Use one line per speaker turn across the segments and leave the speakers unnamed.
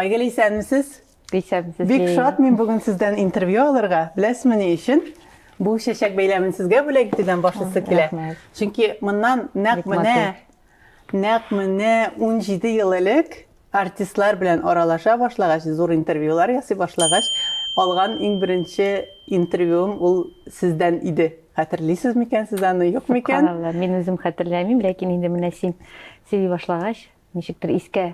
Айгөл, исәнмесез? Исәнмесез, Лилия. Бик шат мин бүген сездән интервью алырга. Беләсезме ни өчен? Бу чәчәк бәйләмен сезгә бүләк итүдән башлысы килә. Чөнки моннан нәкъ менә нәкъ менә 17 ел элек артистлар белән аралаша башлагач, зур интервьюлар ясый башлагач, алган иң беренче интервьюым ул сездән иде. Хәтерлисез микән сез аны, юк микән? Мин үзем хәтерләмим, ләкин инде менә син сөйли башлагач, ничектер искә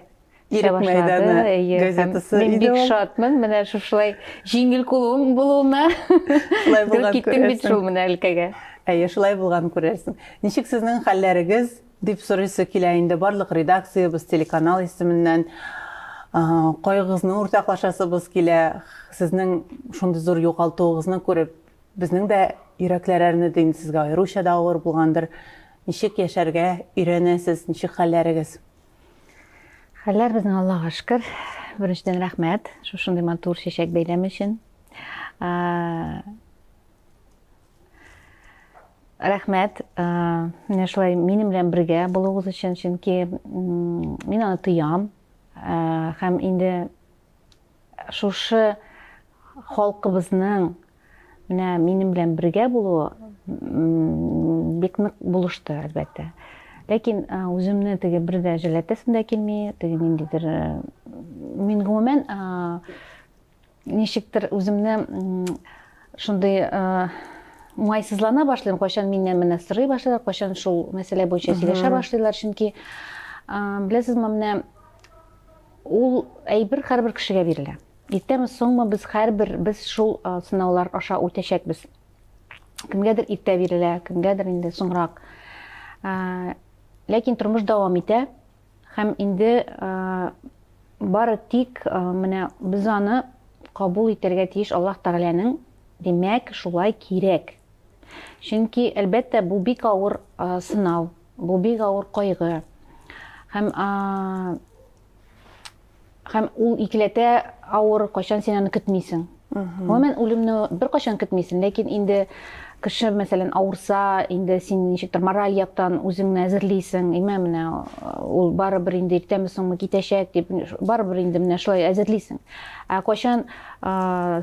Ирек мәйданы газетасы иде бик шатмын менә шушылай җиңел кулым булуына шулай булган киттем бит шул менә өлкәгә әйе шулай булган күрерсең ничек сезнең хәлләрегез дип сорыйсы килә инде барлык редакциябез телеканал исеменнән кайгыгызны уртаклашасыбыз килә сезнең шундый зур югалтуыгызны күреп безнең дә йөрәкләр әрнеде инде сезгә аеруча да авыр булгандыр Ничек яшәргә өйрәнәсез, ничек хәлләрегез? Хәлләр безнең Аллага шөкер. Беренчедән рәхмәт шушындый матур чәчәк бәйләме өчен. Рәхмәт, менә шулай минем белән бергә булуыгыз өчен, чөнки мин аны тоям. Һәм инде Шушы халкыбызның менә минем белән бергә булуы бик нык булышты, әлбәттә. Ләкин үземне теге бер дә җәләтәсем дә килми, теге ниндидер мин гомумән ничектер үземне шундый уңайсызлана башлыйм, кайчан миннән менә сорый башлыйлар, кайчан шул мәсьәлә буенча сөйләшә башлыйлар, чөнки беләсезме, менә Ул әйбер һәрбер кешегә бирелә. Иртәме, соңмы без һәрбер без шул сынаулар аша үтәчәкбез. Кемгәдер иртә бирелә, кемгәдер инде соңрак. Ләкин тормыш дәвам итә һәм инде бары тик менә без аны кабул итәргә тиеш Аллаһ Тәгаләнең димәк шулай кирәк. Чөнки әлбәттә бу бик авыр сынау, Бу бик авыр кайгы. Һәм һәм ул икеләтә авыр, кайчан син аны көтмисең. Гомумән үлемне беркайчан көтмисең, ләкин инде кеше мәсәлән авырса инде син ничектер мораль яктан үзеңне әзерлисең имә менә э, ул барыбер инде иртәме соңмы китәчәк дип барыбер инде менә шулай әзерлисең ә кайчан э,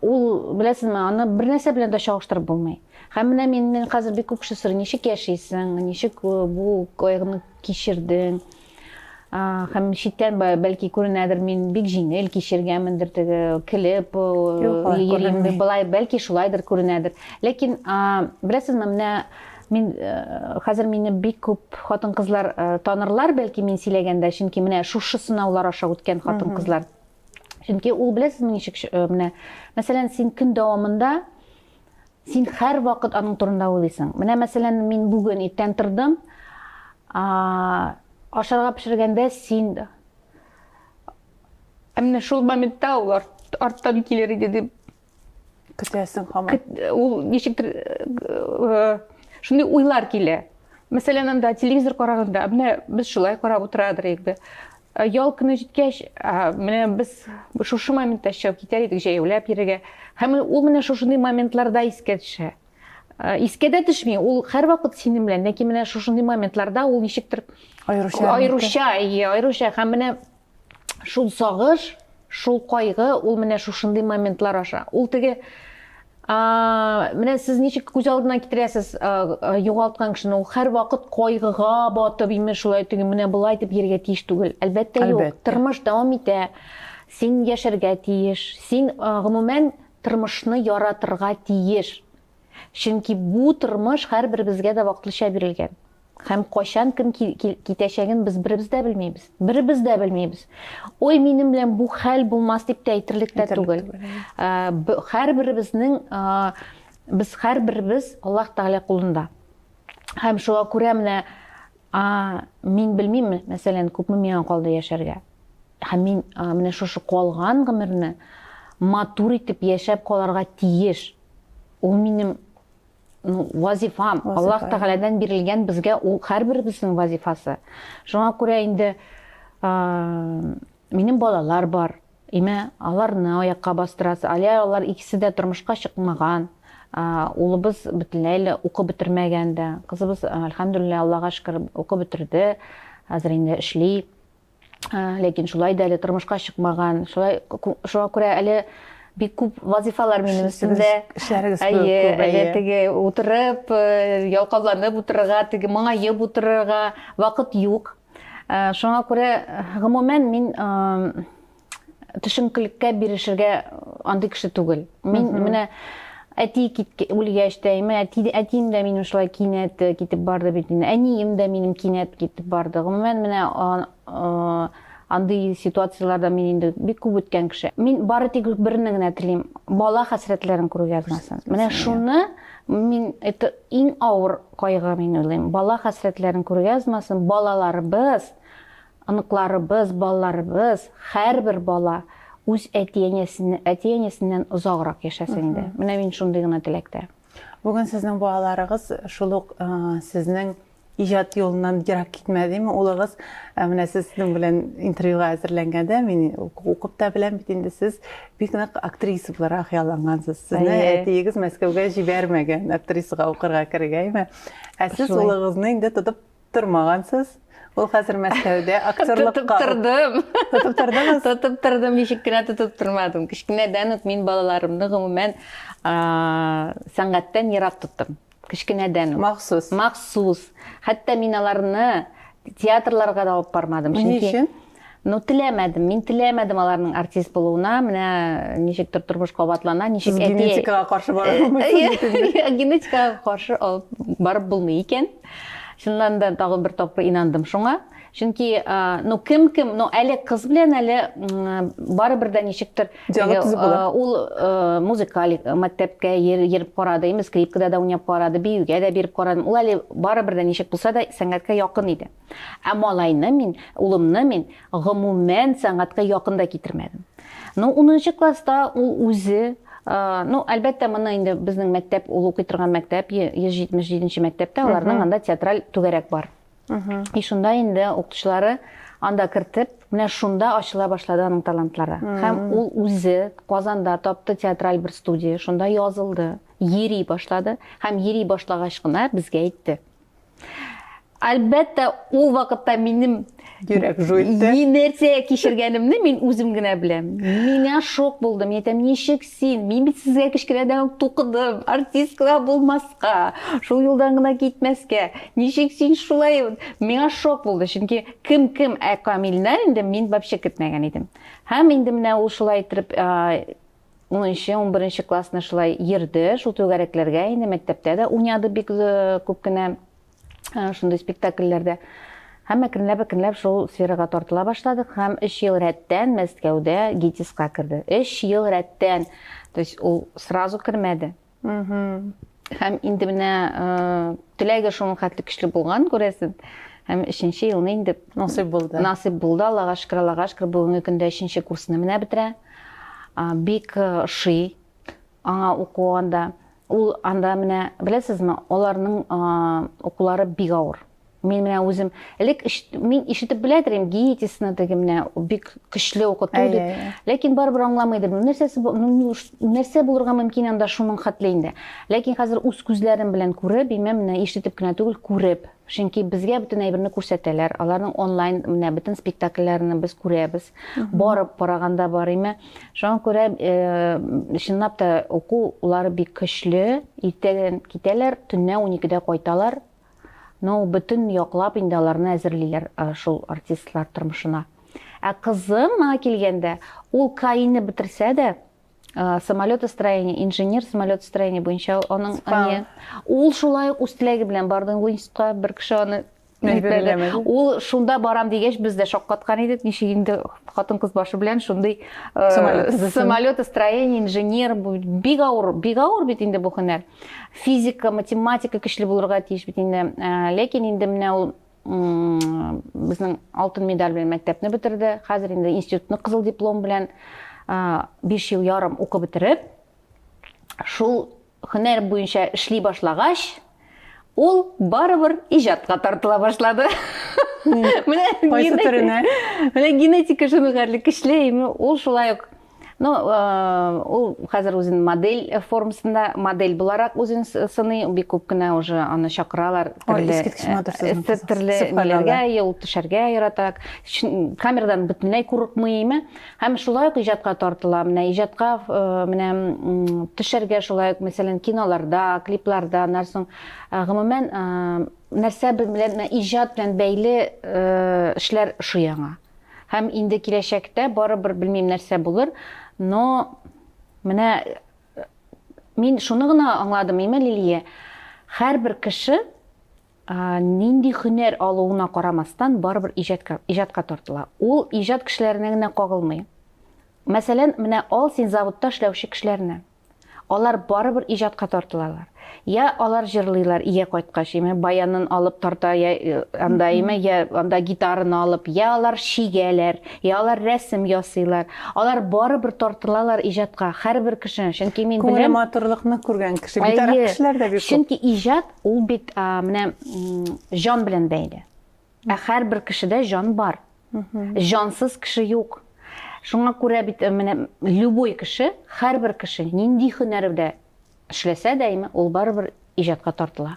Ул, беләсезме, аны бернәрсә белән дә чагыштырып булмый. Һәм менә мин, мин хәзер бик күп кеше сорый, ничек яшисең, ничек бу кайгыны кичердең? Һәм читтән бәлки күренәдер, мин бик җиңел кичергәнмендер, теге килеп йөрим, былай бәлки шулайдыр күренәдер. Ләкин беләсезме, менә мин хәзер мине бик күп хатын-кызлар танырлар, бәлки мин сөйләгәндә, чөнки менә шушы сынаулар аша үткән хатын-кызлар Чөнки ул беләсезме ничек э, менә мәсәлән син көн дәвамында син һәр вакыт аның турында уйлыйсың. Менә мәсәлән мин бүген иртән тордым. А, ашарга пешергәндә син Ә менә шул моментта ул арттан килер иде дип көтәсең хаман ул ничектер шундый уйлар килә мәсәлән анда телевизор караганда менә без шулай карап утырадыр идек бе ял көне җиткәч менә без шушы моментта чыгып китәр идек җәяүләп йөрергә һәм ул менә шушындый моментларда искә төшә искә дә төшми ул һәрвакыт синең белән ләкин менә шушындый моментларда ул ничектер аеруча аеруча иә аеруча һәм менә шул сагыш, шул кайгы, ул менә шушындый моментлар аша. Ул теге менә сез ничек күз алдына китерәсез югалткан кешене ул һәр вакыт кайгыга батып имеш шулай теге менә болай итеп йөрергә тиеш түгел әлбәттә юк тормыш дәвам итә син яшәргә тиеш син гомумән тормышны яратырга тиеш Чөнки бу тормыш һәрберебезгә дә вакытлыча бирелгән. Һәм кайчан кем китәчәген без беребез дә белмибез. Беребез дә белмибез. Ой, минем белән бу хәл булмас дип тә әйтерлек тә түгел. Һәрберебезнең без һәрберебез Аллаһ Тәгалә кулында. Һәм шуңа күрә менә мин белмим, мәсәлән, күпме миңа калды яшәргә. Һәм мин менә шушы калган гомерне матур итеп яшәп каларга тиеш. Ул минем ну, вазифам. Вазифа. Аллаһ Тәгаләдән бирелгән безгә ул һәрберебезнең вазифасы. Шуңа күрә инде ә, минем балалар бар. Имә аларны аякка бастырасы. Әле алар икесе дә тормышка чыкмаган. Ә, улыбыз бөтенләй лә укып бетермәгән дә. Кызыбыз, әлхәмдүлилләһ, Аллаһка шөкер, укып бетерде. Хәзер инде эшли. ләкин шулай да әле тормышка чыкмаган шулай шуңа күрә әле бик күп вазифалар минем өстемдә эшләрегез әйе әле теге утырып э, ялкауланып утырырга теге моңаеп утырырга вакыт юк э, шуңа күрә гомумән мин э, төшенкелеккә бирешергә андый кеше түгел. Мин менә әти үлгәч тә, әти, әтием дә минем шулай кинәт э, китеп барды бит инде. Әнием дә минем кинәт китеп барды. Гомумән менә э, андый ситуацияләрдә мин инде бик күп үткән кеше. Мин бары тик берне генә телим, бала хәсрәтләрен күрү язмасын. Менә шуны мин это иң авыр кайгы мин уйлыйм. Бала хәсрәтләрен күрү язмасын. Балаларыбыз Оныкларыбыз, балаларыбыз, һәрбер бала үз әти-әниясеннән, әти-әниясеннән озаграк яшәсен иде. Менә мин шундый гына теләктә. Бүген сезнең балаларыгыз шул ук сезнең иҗат юлыннан ерак китмәдеме? Улыгыз менә сезнең белән интервьюга әзерләнгәндә мин укып та беләм бит инде сез бик нык актриса буларак яллангансыз. Сезне әтиегез Мәскәүгә җибәрмәгән актрисага укырга керергә, әйме? Ә сез улыгызны инде тотып тормагансыз. Ул хәзер Мәскәүдә актерлыкка. Тотып тордым. Тотып тордыңыз? Тотып тордым, ничек кенә тотып тормадым. Кечкенәдән үк мин балаларымны гомумән сәнгатьтән ерак тоттым. Кечкенәдән үк. Махсус. Махсус. Хәтта мин аларны театрларга да алып бармадым. Чөнки Ну, теләмәдем, мин теләмәдем аларның артист булуына, менә ничектер тормыш кабатлана, ничек әти... Генетикага каршы барып булмый. Генетикага каршы барып булмый икән. Шуннан да тагын бер тапкыр инандым шуңа. Чөнки, ну, кем кем, ну, әле кыз белән әле барыбер дә ничектер ул музыкаль мәктәпкә йөреп карады, инде скрипкада да уйнап карады, биюгә дә биреп карады. Ул әле барыбер дә ничек булса да сәнгатькә якын иде. Ә малайны мин, улымны мин, гомумән, сәнгатькә якын да китермәдем. Ну, унынчы класста ул үзе, ну, әлбәттә, моны инде безнең мәктәп, ул укый торган мәктәп, 177-нче мәктәптә, аларның анда театраль түгәрәк бар. И шунда инде укытучылары анда кертеп, менә шунда ачыла башлады аның талантлары. Һәм ул үзе Казанда тапты театраль бер студия, шунда язылды, йөри башлады. Һәм йөри башлагач кына безгә әйтте. Әлбәттә, ул вакытта минем йөрәк жуйды. Ни нәрсә кичергәнемне мин үзем генә беләм. Миңа шок булды. Мин әйтәм, ничек син? Мин бит сезгә кечкенәдән үк тукыдым. Артисткалар булмаска, шул юлдан гына китмәскә. Ничек син шулай? Миңа шок булды, чөнки кем кем, ә Камилне инде мин вообще көтмәгән идем. Һәм инде менә ул шулай итеп Унынчы, унберенче классны шулай йөрде, шул түгәрәкләргә инде мәктәптә дә уйнады бик күп кенә шундый спектакльләрдә. Һәм әкренләп-әкренләп шул сферага тартыла башладык һәм 3 ел рәттән Мәскәүдә ГИТИСка керде. 3 ел рәттән. То есть ул сразу кермәде. Һәм инде менә теләге шуның хәтле көчле булган, күрәсез. Һәм өченче елны инде насыйп булды. Насыйп булды, Аллага шөкер, Аллага шөкер, бүгенге көндә өченче курсны менә бетерә. Бик ши аңа уку анда. Ул анда менә, беләсезме, аларның укулары бик авыр. Мин менә үзем элек мин ишетеп белә идем гиетисны теге менә бик көчле укыту дип. Ләкин барыбер аңламый идем. Нәрсәсе нәрсә булырга мөмкин анда шуның хәтле инде. Ләкин хәзер үз күзләрем белән күреп, имә менә ишетеп кенә түгел, күреп. Чөнки безгә бөтен әйберне күрсәтәләр. Аларның онлайн менә бөтен спектакльләрен без күрәбез. Барып караганда бар име. Шуңа күрә э, чынлап та уку улары бик көчле. Иртәдән китәләр, төнлә 12-дә кайталар. Но ул бөтен яклап инде аларны әзерлиләр шул артистлар тормышына. Ә кызыма килгәндә, ул КАИны бетерсә дә, самолетостроение, инженер самолетостроение буенча аның әни, ул шулай ук үз теләге белән барды институтка, бер кеше аны Ул шунда барам дигәч, без дә шаккаткан идек, ничек инде хатын-кыз башы белән шундый самолетостроение, инженер, бик авыр, бик авыр бит инде бу һөнәр. физика математика көчле булырга тиеш бит инде э, ләкин инде менә ул безнең алтын медаль белән мәктәпне бетерде хәзер инде институтны кызыл диплом белән э, биш ел ярым укып бетереп шул һөнәр буенча эшли башлагач ул барыбер иҗатка тартыла башлады менә генетика шуны гарле көчле ул шулай ук Ну, э, ул хәзер үзен модель формасында модель буларак үзен сыный, бик күп кенә уже аны чакыралар. Төрле э, ниләргә юл төшәргә ярата. Камерадан бөтенләй курыкмыймы? Һәм шулай ук иҗатка тартыла. Менә иҗатка э, менә төшәргә шулай ук, мәсәлән, киноларда, клипларда, нәрсәң гомумән нәрсә белән иҗат белән бәйле эшләр шуяңа. Һәм инде киләчәктә барыбер белмим нәрсә булыр, но менә мин шуны гына аңладым, имә Лилия, һәрбер кеше нинди хөнәр алуына карамастан барыбер иҗатка иҗатка тартыла. Ул иҗат кешеләренә генә кагылмый. Мәсәлән, менә ал син заводта эшләүче кешеләрне. Алар барыбер иҗатка тартылалар. Я алар җырлыйлар ия кайткач, име баянын алып тарта, я э, анда име, я анда гитараны алып, я алар чигәләр, я алар рәсем ясыйлар. Алар барыбер тартылалар иҗатка, һәрбер кеше. Чөнки мин беләм. Күңеле матурлыкны күргән кеше, битараф кешеләр дә бик күп. Чөнки иҗат ул бит менә җан белән бәйле. Ә һәрбер кешедә җан бар. Җансыз кеше юк. Шуңа күрә бит э, менә любой кеше, һәрбер кеше нинди һөнәрдә эшләсә дә, ул барыбер иҗатка тартыла.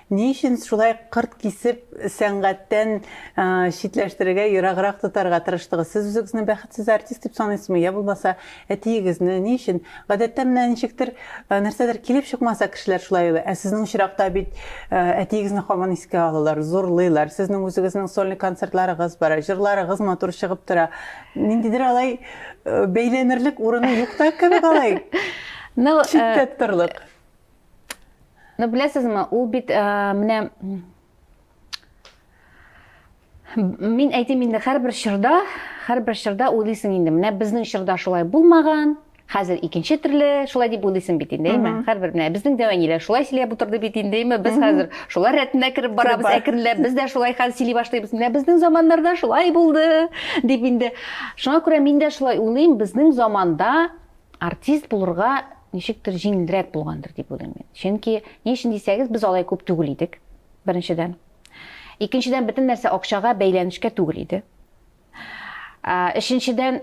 Ни өчен шулай кырт кисеп сәнгатьтән читләштерергә, ераграк тотарга тырыштыгыз? Сез үзегезне бәхетсез артист дип саныйсызмы? Я булмаса, әтиегезне? Ни өчен? Гадәттә менә ничектер, нәрсәдер килеп чыкмаса, кешеләр шулай уйлый. Ә сезнең очракта бит әтиегезне һаман искә алалар, зурлыйлар. Сезнең үзегезнең сольный концертларыгыз бар, җырларыгыз матур чыгып тора. Ниндидер алай бәйләнерлек урыны юк та кебек алай читтә торырлык. Ну, беләсезме, ул бит ә, менә мин әйтим инде һәрбер чорда, һәрбер чорда уйлыйсың инде. Менә безнең чорда шулай булмаган, хәзер икенче төрле шулай дип уйлыйсың бит инде әйме һәрбер менә безнең дәвәниләр шулай сөйләп утырды бит инде әйме без хәзер шулар рәтенә кереп барабыз әкренләп без дә шулай хәзер сөйли башлыйбыз менә безнең заманнарда шулай булды дип инде шуңа күрә мин дә шулай уйлыйм безнең заманда Артист булырга ничектер җиңелрәк булгандыр дип уйлыйм мин. Чөнки ни өчен дисәгез, без алай күп түгел идек. Беренчедән. Икенчедән, бөтен нәрсә акчага бәйләнешкә түгел иде. Өченчедән,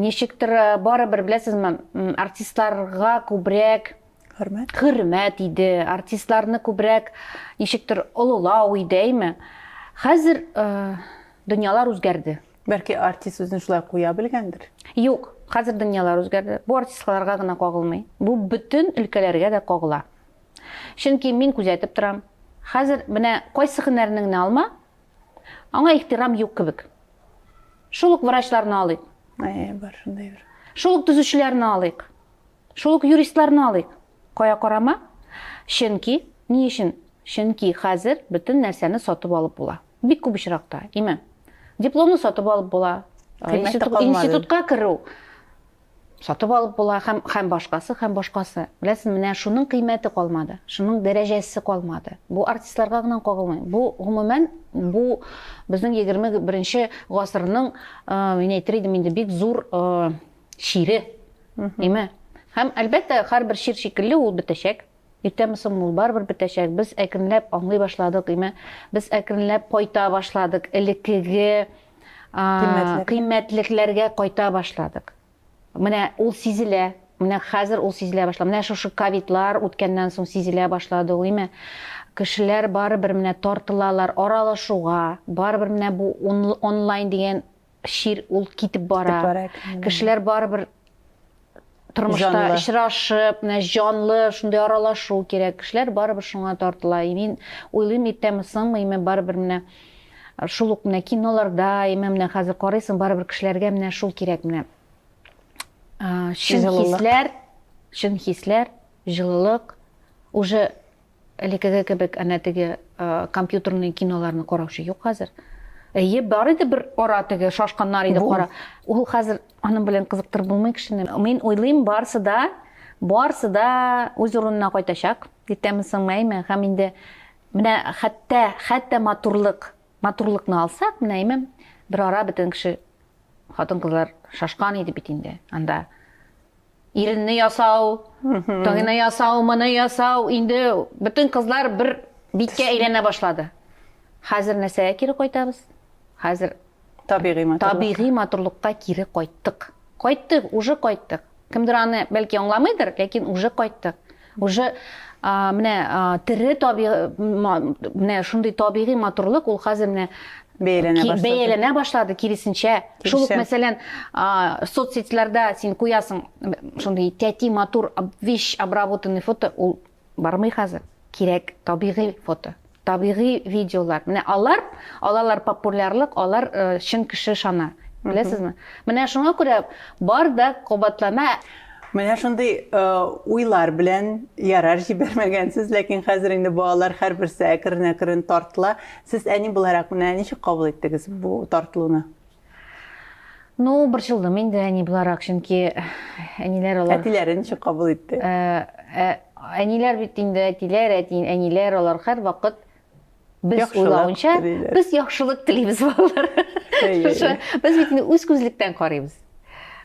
ничектер барыбер беләсезме, артистларга күбрәк хөрмәт хөрмәт иде, артистларны күбрәк ничектер олылау иде, әйме? Хәзер дөньялар үзгәрде. Бәлки артист үзен шулай куя белгәндер? Юк, хәзер дөньялар үзгәрде. Бу артистларга гына кагылмый. Бу бөтен өлкәләргә дә кагыла. Чөнки мин күзәтеп торам. Хәзер менә кайсы һөнәрнең генә алма, аңа ихтирам юк кебек. Шул ук врачларны алыйк. Әйе, бар шундый бер. Шул ук төзүчеләрне алыйк. Шул ук юристларны алыйк. Кая карама? Чөнки, ни өчен? Чөнки хәзер бөтен нәрсәне сатып алып була. Бик күп очракта, име. Дипломны сатып алып була, институтка керү сатып алып була һәм һәм башкасы һәм башкасы беләсез менә шуның кыйммәте калмады шуның дәрәҗәсе калмады бу артистларга гына кагылмый бу гомумән бу безнең егерме беренче гасырның мин әйтер идем инде бик зур чире име һәм әлбәттә һәрбер чир шикелле ул бетәчәк Иртәме соңмы ул барыбер бетәчәк. Без әкренләп аңлый башладык, име? Без әкренләп кайта башладык, элеккеге кыйммәтлекләргә кайта башладык. Менә ул сизелә, Менә хәзер ул сизелә башлады. Менә шушы ковидлар үткәннән соң сизелә башлады ул, име? Кешеләр барыбер менә тартылалар аралашуга, барыбер менә бу онлайн дигән чир ул китеп бара. Кешеләр барыбер тормышта очрашып, менә җанлы шундый аралашу кирәк. Кешеләр барыбер шуңа тартыла. И мин уйлыйм, иртәме соңмы, име барыбер менә шул ук менә киноларда, име менә хәзер карыйсың, барыбер кешеләргә менә шул кирәк менә. Чын хисләр, чын хисләр, җылылык уже Элекеге кебек әнә теге компьютерный киноларны караучы юк хәзер. Әйе, бар иде бер ара теге шашканнар иде кара. Ул хәзер аның белән кызыктырып булмый кешене. Мин уйлыйм, барсы да, барсы да үз урынына кайтачак. Иртәме соңмы, әйме, һәм инде менә хәтта, хәтта матурлык, матурлыкны алсак, менә әйме, бер ара бөтен кеше хатын-кызлар шашкан иде бит инде анда. Иренне ясау, тайны ясау, моны ясау, инде бөтен кызлар бер биткә әйләнә башлады. Хәзер нәрсәгә кире кайтабыз? Хәзер табигый матурлыкка. Табигый матурлыкка кире кайттык. Кайттык, уже кайттык. Кемдер аны бәлки аңламыйдыр, ләкин уже кайттык. Уже менә тере таби менә шундый табигый матурлык ул хәзер менә бәяләнә башлады. Бәяләнә башлады, киресенчә. Шул ук, мәсәлән, соцсетьләрдә син куясың шундый тәти матур, вещь обработанный фото, ул бармый хәзер. Кирәк табигый фото. Табигый видеолар. Менә алар алалар популярлык, алар чын кеше ышана. Беләсезме? Менә шуңа күрә бар да кабатлана. Менә шундый уйлар белән ярар җибәрмәгәнсез, ләкин хәзер инде балалар һәрберсе әкрен-әкрен тартыла. Сез әни буларак менә ничек кабул иттегез бу тартылуны? Ну, борчылдым инде әни буларак, чөнки әниләр алар... Әтиләре ничек кабул итте? Әниләр бит инде әтиләр, әниләр алар һәр вакыт без уйлавынча, без яхшылык телибез балалар. Без бит инде үз күзлектән карыйбыз.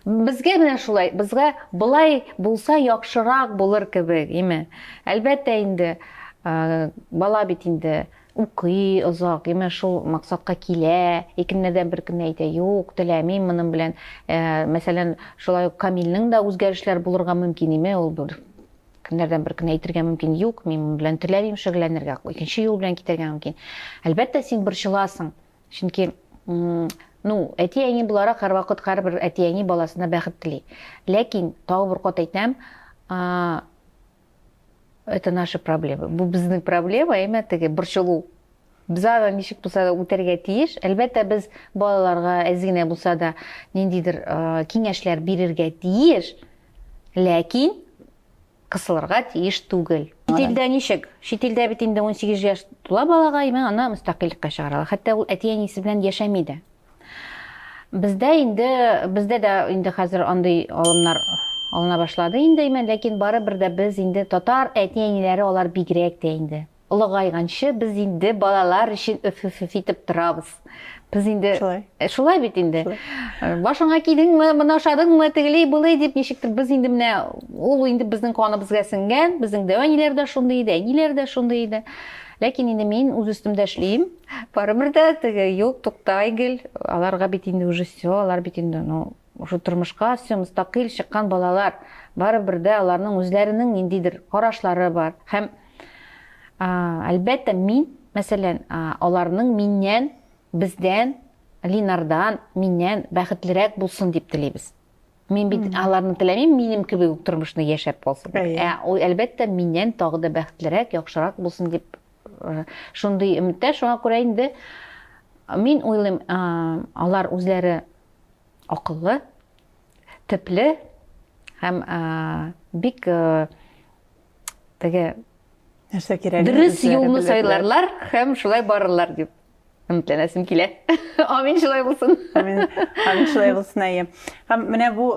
Безгә менә шулай, безгә былай булса яхшырак булыр кебек, име? Әлбәттә инде, бала бит инде Укый, озак, имеш, шул максатка килә, и көннәрдән бер көнне әйтә, юк, теләмим моның белән. Ә, мәсәлән, шулай ук Камилнең дә үзгәрешләр булырга мөмкин име, ул бер көннәрдән бер көнне әйтергә мөмкин, юк, мин моның белән теләмим шөгыльләнергә, икенче юл белән китәргә мөмкин. Әлбәттә, син борчыласың, чөнки ну, әти-әни буларак һәрвакыт һәрбер әти-әни баласына бәхет тели. Ләкин, тагы бер кат әйтәм, это наши проблемы бу безнең проблема әмма теге борчылу без аны ничек булса да үтәргә тиеш әлбәттә без балаларга әз генә булса да ниндидер киңәшләр бирергә тиеш ләкин кысылырга тиеш түгел шетелдә ничек шетелдә бит инде 18 яшь тула балага әмма аны мөстәкыйльлеккә чыгаралар хәтта ул әти әнисе белән яшәми дә Бездә инде, бездә дә инде хәзер андый алымнар алына башлады инде, имән, ләкин барыбер дә без инде татар әти-әниләре алар бигрәк тә инде. Олыгайганчы без инде балалар өчен өф-өф-өф итеп торабыз. Без инде Шулай. Э, шулай бит инде. Э, Башыңа кидеңме, моны ашадыңмы, тегели булый дип ничектер без инде менә ул инде безнең каныбызга сеңгән, безнең дә әниләр дә шундый иде, әниләр дә шундый иде. Ләкин инде мин үз өстемдә эшлим. Барыбер дә теге юк, тукта, Айгөл, аларга бит инде уже все, алар бит инде, ну, уже тормышка все мөстәкыйль чыккан балалар. Барыбер дә аларның үзләренең ниндидер карашлары бар. Һәм әлбәттә мин, мәсәлән, аларның миннән, бездән, Линардан, миннән бәхетлерәк булсын дип телибез. Мин бит аларны теләмим, минем кебек үк тормышны яшәп калсын. Ә ул әлбәттә миннән тагы да бәхетлерәк, яхшырак булсын дип Шундый өметтә, шуңа күрә инде мин уйлыйм, алар үзләре акыллы, төпле һәм бик теге нәрсә кирәк? Дөрес юлны сайларлар һәм шулай барырлар дип Өметләнәсем килә. Амин шулай булсын. Амин. Амин шулай булсын әйе. Һәм менә бу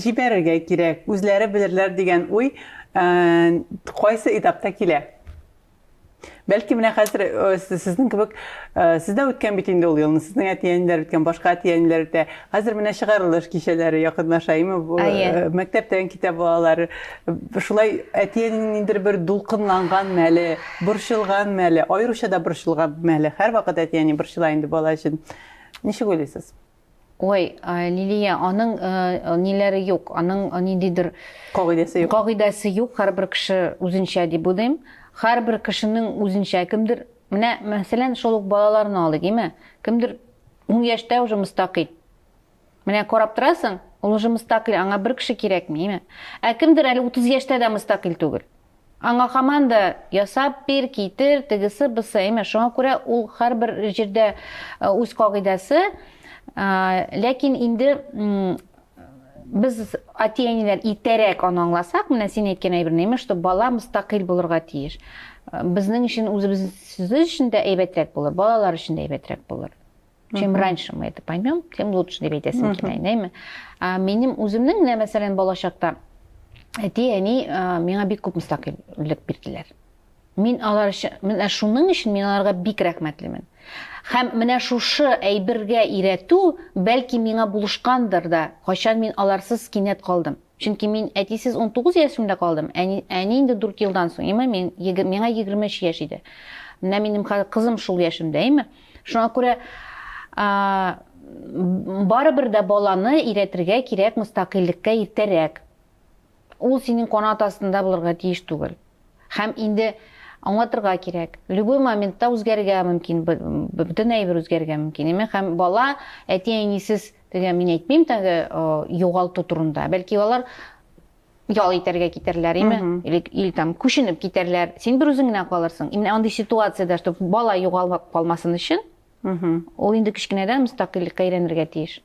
җибәрергә кирәк, үзләре белерләр дигән уй кайсы этапта килә? Бәлки менә хәзер э, сезнең кебек э, сездә үткән бит инде ул елны, сезнең әти-әниләр үткән, башка әти-әниләр үтә. Хәзер менә чыгарылыш кичәләре якынлаша, име бу мәктәптән китә балалар. Шулай әтиәнең ниндер бер дулкынланган мәле, борчылган мәле, аеруча да борчылган мәле. Һәрвакыт әтиәни борчыла инде бала өчен. Ничек уйлыйсыз? Ой, Лилия, аның ниләре юк, аның ниндидер кагыйдәсе юк. Кагыйдәсе юк, һәрбер кеше үзенчә дип уйлыйм. Һәрбер кешенең үзенчә кемдер, менә мәсәлән, шул ук балаларны алыйк, име? Кемдер Ун яшьтә уже мөстәкыйль. Менә карап торасың, ул уже мөстәкыйль, аңа бер кеше кирәкми, име? Ә кемдер әле 30 яшьтә дә мөстәкыйль түгел. Аңа һаман да ясап бир, китер, тегесе, бусы, име? Шуңа күрә ул һәрбер җирдә үз кагыйдәсе, ләкин инде Без әти-әниләр итәрәк аны аңласак, менә син әйткән әйберне, имеш, что бала мустакыйль булырга тиеш. Безнең өчен үзебез сүзебез өчен дә әйбәтрәк булыр, балалар өчен дә әйбәтрәк булыр. Чем раньше мы это поймем, тем лучше дип әйтәсем килә, әйдәме? Минем үземнең менә мәсәлән балачакта әти-әни миңа бик күп мустакыйльлек бирделәр. Мин алар өчен, менә шуның өчен мин аларга бик рәхмәтлемен. Һәм менә шушы әйбергә иретү, бәлки, миңа булышкандыр да, кайчан мин аларсыз кинәт калдым. Чөнки мин әтисез унтугыз яшемдә калдым, әни, әни инде дүрт елдан соң, име, мин, еге, миңа егерме өч яшь иде. Менә минем хәзер кызым шул яшемдә, име. Шуңа күрә а, барыбер дә баланы иретергә кирәк мөстәкыйльлеккә иртәрәк. Ул синең канат астында булырга тиеш түгел. Һәм инде аңлатырга кирәк. Любой моментта үзгәрергә мөмкин, бөтен әйбер үзгәрергә мөмкин. Әмма һәм бала әти-әнисез теге мин әйтмим тәге югалту турында. Бәлки алар ял итәргә китәрләр, име? Или, или там күченеп китәрләр. Син бер үзең генә калырсың. Именно андый ситуациядә, чтобы бала югалып калмасын өчен, ул инде кечкенәдән мөстәкыйльлеккә өйрәнергә тиеш.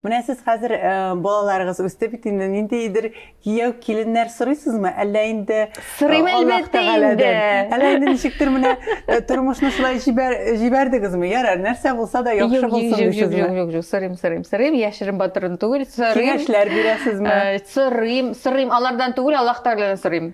Менә сез хәзер э, балаларыгыз үсте бит инде ниндидер кияү киленнәр сорыйсызмы? Әллә инде э, Сорыйм әлбәттә инде. Әллә инде ничектер менә э, тормышны шулай җибәр җибәрдегезме? Ярар, нәрсә булса да яхшы булсын дисезме? Юк, юк, юк, юк, сорыйм, сорыйм, сорыйм, яшерен батырын түгел, сорыйм. Киңәшләр бирәсезме? Сорыйм, сорыйм, алардан түгел, Аллаһ Тәгаләдән сорыйм.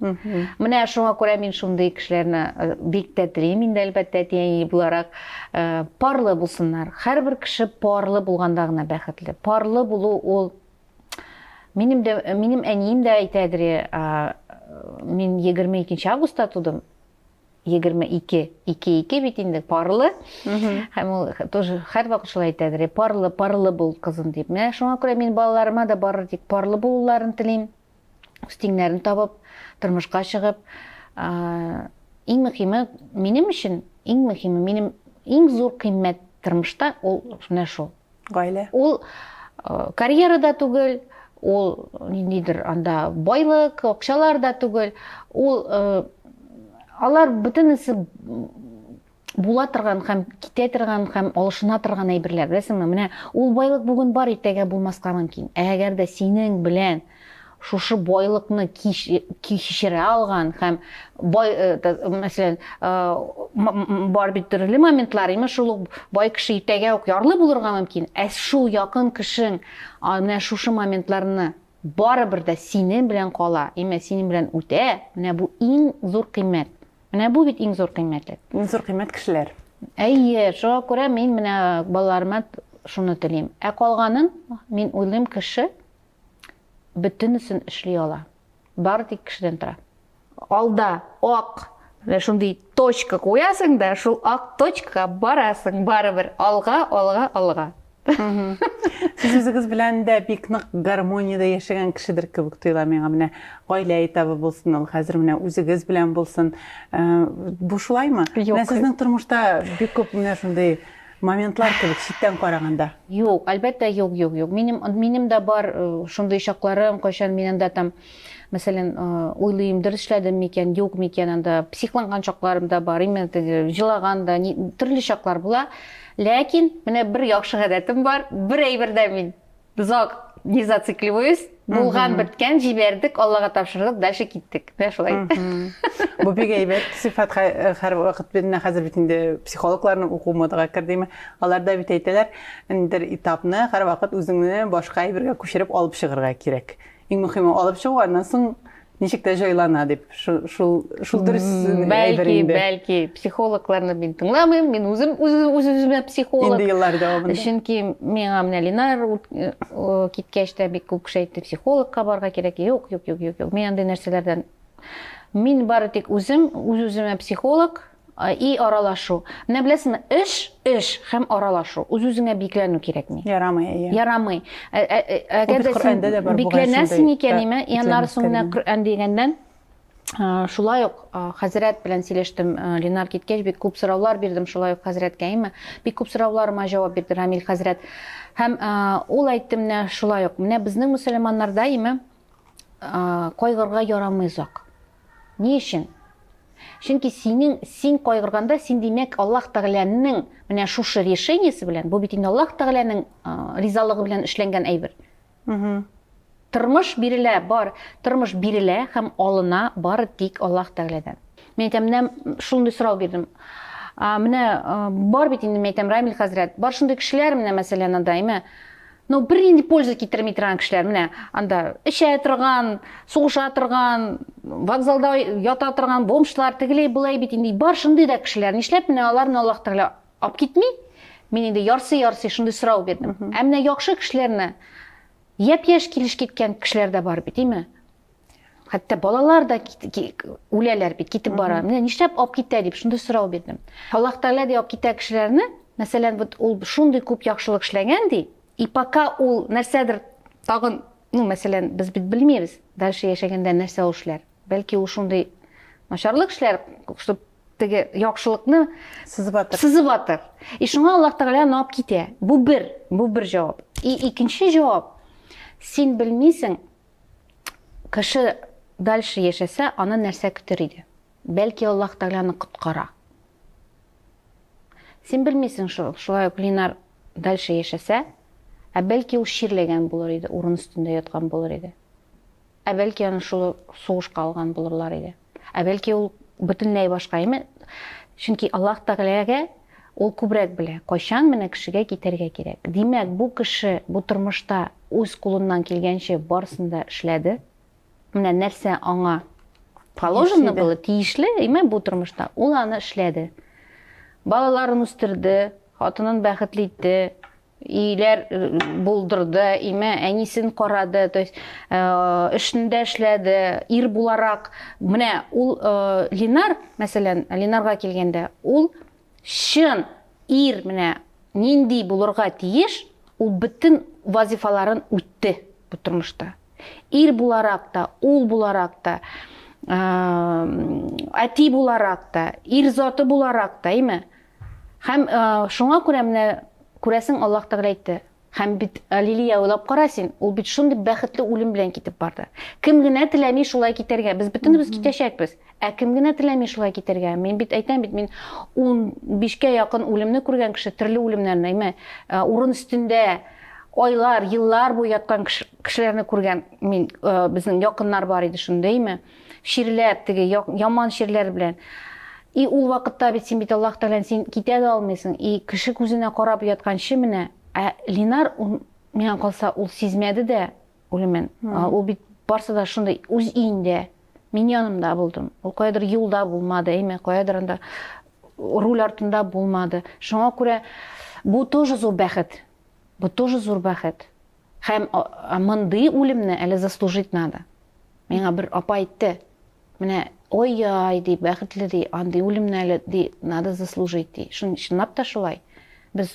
Менә шуңа күрә мин шундый кешеләрне э, бик тә телим инде, әлбәттә, әти-әни буларак. Э, парлы булсыннар. Һәрбер кеше парлы булганда гына бәхетле. Парлы булу ул Минем дә минем әнием дә әйтәдер, э, мин 22 августта тудым. 22, 2-2 бит инде парлы. Һәм ул тоже һәрвакыт шулай әйтәдер, парлы, парлы бул кызым дип. Менә шуңа күрә мин балаларыма да барыр тик парлы булуларын телим. үз тиңнәрен табып, тормышка чыгып, иң мөхиме минем өчен, иң мөхиме минем иң зур кыйммәт тормышта ул менә шул. Гаилә. Ул карьера да түгел, ул ниндидер анда байлык, акчалар да түгел, ул алар бөтенесе була торган һәм китә торган һәм алышына торган әйберләр, беләсеңме? Менә ул байлык бүген бар, иртәгә булмаска мөмкин. Ә әгәр дә синең белән шушы байлыкны кичерә алган һәм бай, э, мәсәлән, э, бар бит төрле моментлар, имеш шул ук бай кеше иртәгә үк ярлы булырга мөмкин. Ә шул якын кешең менә шушы моментларны барыбер дә синең белән кала, имә синең белән үтә. Менә бу иң зур кыйммәт. Менә бу бит иң зур кыйммәтлек. Иң зур кыйммәт кешеләр. Әйе, шуңа күрә мин менә балаларыма шуны телим. Ә калганын, мин уйлыйм, кеше бөтенесен эшли ала. Бары тик кешедән тора. Алда ак шундый точка куясың да, шул ак точкага барасың барыбер. Алга, алга, алга. Сез үзегез белән дә бик нык гармониядә яшәгән кешедер кебек тоела миңа менә гаилә этабы булсын ул хәзер менә үзегез белән булсын. Э, бу шулаймы? Менә сезнең тормышта бик күп менә шундый моментлар кебек читтән караганда. Юк, әлбәттә, юк, юк, юк. Минем минем дә бар э, шундый чакларым, кайчан мин анда там Мәсәлән, уйлыйм, дөрес эшләдем микән, юк микән, анда психланган чакларым да бар, именно теге җилаган да, төрле чаклар була. Ләкин менә бер яхшы гадәтем бар, бер әйбердә мин зак не зацикливаюсь, булган беткән җибәрдек аллага тапшырдык дальше киттек менә шулай бу бик әйбәт сыйфат һәр вакыт менә хәзер бит инде психологларның уку модага кердеме алар да бит әйтәләр бер этапны һәрвакыт үзеңне башка әйбергә күчереп алып чыгарга кирәк Иң мөхиме алып чыгу, аннан соң ничек тә җайлана дип. Шул шул шул дөрес Бәлки, бәлки психологларны мин тыңламыйм, мин үзем үз-үземә психолог. Инде еллар дәвамында. Чөнки миңа менә Линар киткәч тә бик күп кеше әйтте, психологка барга кирәк. Юк, юк, юк, юк, юк. Мин андый нәрсәләрдән мин бары тик үзем, үз-үземә психолог, И аралашу. Менә беләсеңме, эш, эш һәм аралашу. Үз-үзеңә бикләнү кирәкми. Ярамый, әйе. Ярамый. Ә, ә, ә, әгәр дә син бикләнәсең икән, име, яннары соң менә Коръән дигәннән, шулай ук хәзрәт белән сөйләштем, Ленар киткәч бик күп сораулар бирдем шулай ук хәзрәткә, име? Бик күп сорауларыма җавап бирде Рамил хәзрәт. Һәм ул әйтте менә шулай ук, менә безнең мөселманнарда, име, кайгырга ярамый озак. Ни өчен? Чөнки синең, син кайгырганда, син димәк Аллаһ Тәгаләнең менә шушы решениесе белән, бу бит инде Аллаһ Тәгаләнең ризалыгы белән эшләнгән әйбер. Тормыш бирелә, бар, тормыш бирелә һәм алына бары тик Аллаһ Тәгаләдән. Мин әйтәм, менә шундый сорау бирдем. Менә бар бит инде, мин әйтәм, Рамил хәзрәт, бар шундый кешеләр, менә мәсәлән, анда, әйме, Но бернинди польза китерми торган кешеләр менә анда эчә торган, сугыша торган, вокзалда ята торган бомжлар, тегеләй болай бит инде бар шундый да кешеләр. Нишләп менә аларны Аллаһ Тәгалә алып китми? Мин инде ярсый-ярсый шундый сорау бирдем. Ә менә яхшы кешеләрне япь-яшь килеш киткән кешеләр дә бар бит, димме? хәтта балалар да үләләр бит китеп бара менә нишләп алып китә дип шундый сорау бирдем аллаһ тәгалә ди алып китә кешеләрне мәсәлән вот ул шундый күп яхшылык эшләгән ди и пока ул нәрсәдер тагын ну мәсәлән без бит белмибез дальше яшәгәндә нәрсә ул эшләр бәлки ул шундый начарлык эшләр чтобы теге яхшылыкны сызып атыр сызып атыр и шуңа аллаһ тәгалә аны алып китә бу бер бу бер җавап и икенче җавап син белмисең Кеше дальше яшәсә, аны нәрсә көтер иде? Бәлки Аллаһ Тәгаләне коткара. Син белмисең шул, шулай ук Линар дальше яшәсә, ә бәлки ул чирләгән булыр иде, урын өстендә яткан булыр иде. Ә бәлки аны шул сугышка алган булырлар иде. Ә бәлки ул бөтенләй башка име? Чөнки Аллаһ Тәгаләгә ул күбрәк белә, кайчан менә кешегә китәргә кирәк. Димәк, бу кеше бу тормышта үз кулыннан килгәнче барысын да эшләде. Менә нәрсә аңа положено было, тиешле, име бу тормышта, ул аны эшләде. Балаларын үстерде, хатынын бәхетле итте, Иилэр булдырды, име әнисен карады, то есть эшендә эшләде, ир буларак. Менә ул Линар, мәсәлән, Линарга килгәндә, ул чын ир менә нинди булырга тиеш, ул бөтен вазифаларын үтте бу тормышта. Ир буларак та, ул буларак та, әти буларак та, ир заты буларак та, име? Һәм шуңа күрә менә, күрәсең, Аллаһ Тәгалә әйтте, Һәм бит Лилия уйлап кара син, ул бит шундый бәхетле үлем белән китеп барды. Кем генә теләми шулай китәргә? Без бөтенебез китәчәкбез. Ә кем генә теләми шулай китәргә? Мин бит әйтәм бит, мин 15кә якын үлемне күргән кеше, төрле үлемнәрне, әйме, урын өстендә айлар, еллар буе яткан кешеләрне күргән мин, безнең якыннар бар иде шундый, әйме. Чирләп, теге яман чирләр белән. И ул вакытта бит син бит Аллаһ Тәгаләне син китә дә алмыйсың. И кеше күзенә карап ятканчы менә. Ә Линар миңа калса ул сизмәде дә үлемен. Ул бит барсы да шундый үз өендә, мин янымда булдым. Ул каядыр юлда булмады, әйме, каядыр анда руль артында булмады. Шуңа күрә бу тоже зур бәхет. Бу тоже зур бәхет. Һәм мондый үлемне әле заслужить надо. Миңа бер апа әйтте, менә ой-яй, ди, бәхетле, ди, андый үлемне әле, ди, надо заслужить, ди. Шын, шынлап та шулай. Без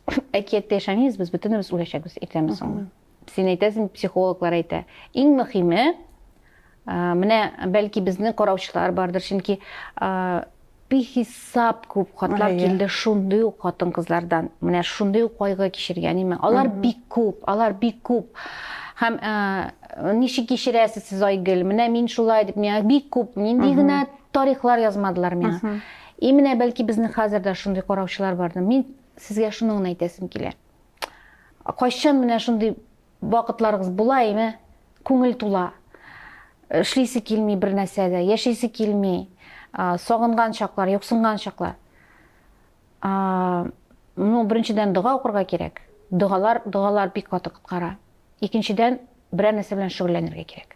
әкияттә яшәмибез, без бөтенебез үләчәкбез иртәме соңмы. Син әйтәсең, психологлар әйтә. Иң мөһиме, Менә бәлки безнең караучылар бардыр, чөнки бихисап күп хатлар килде шундый ук хатын кызлардан. Менә шундый ук кайгы кичергән име. Алар бик күп, алар бик күп. Һәм ничек кичерәсез сез Айгөл? Менә мин шулай дип, миңа бик күп, нинди генә тарихлар язмадылар миңа. И менә бәлки безнең хәзер дә шундый караучылар бардыр. Мин сезгә шуны гына әйтәсем килә. Кайчан менә шундый Вакытларыгыз була име? Күңел тула. Эшлисе килми бер нәрсә дә, яшисе килми. Сагынган чаклар, юксынган чаклар. Ну, беренчедән дога укырга кирәк. Догалар, догалар бик каты коткара. Икенчедән, берәр нәрсә белән шөгыльләнергә кирәк.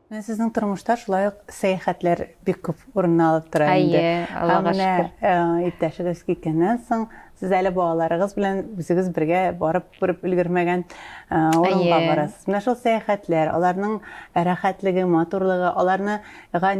Менә сезнең тормышта шулай ук сәяхәтләр бик күп урынны алып тора инде. Әйе, Аллага шөкер. Ә менә иптәшегез киткәннән соң, сез әле балаларыгыз белән үзегез бергә барып күреп өлгермәгән урынга барасыз. Менә шул сәяхәтләр, аларның рәхәтлеге, матурлыгы, аларны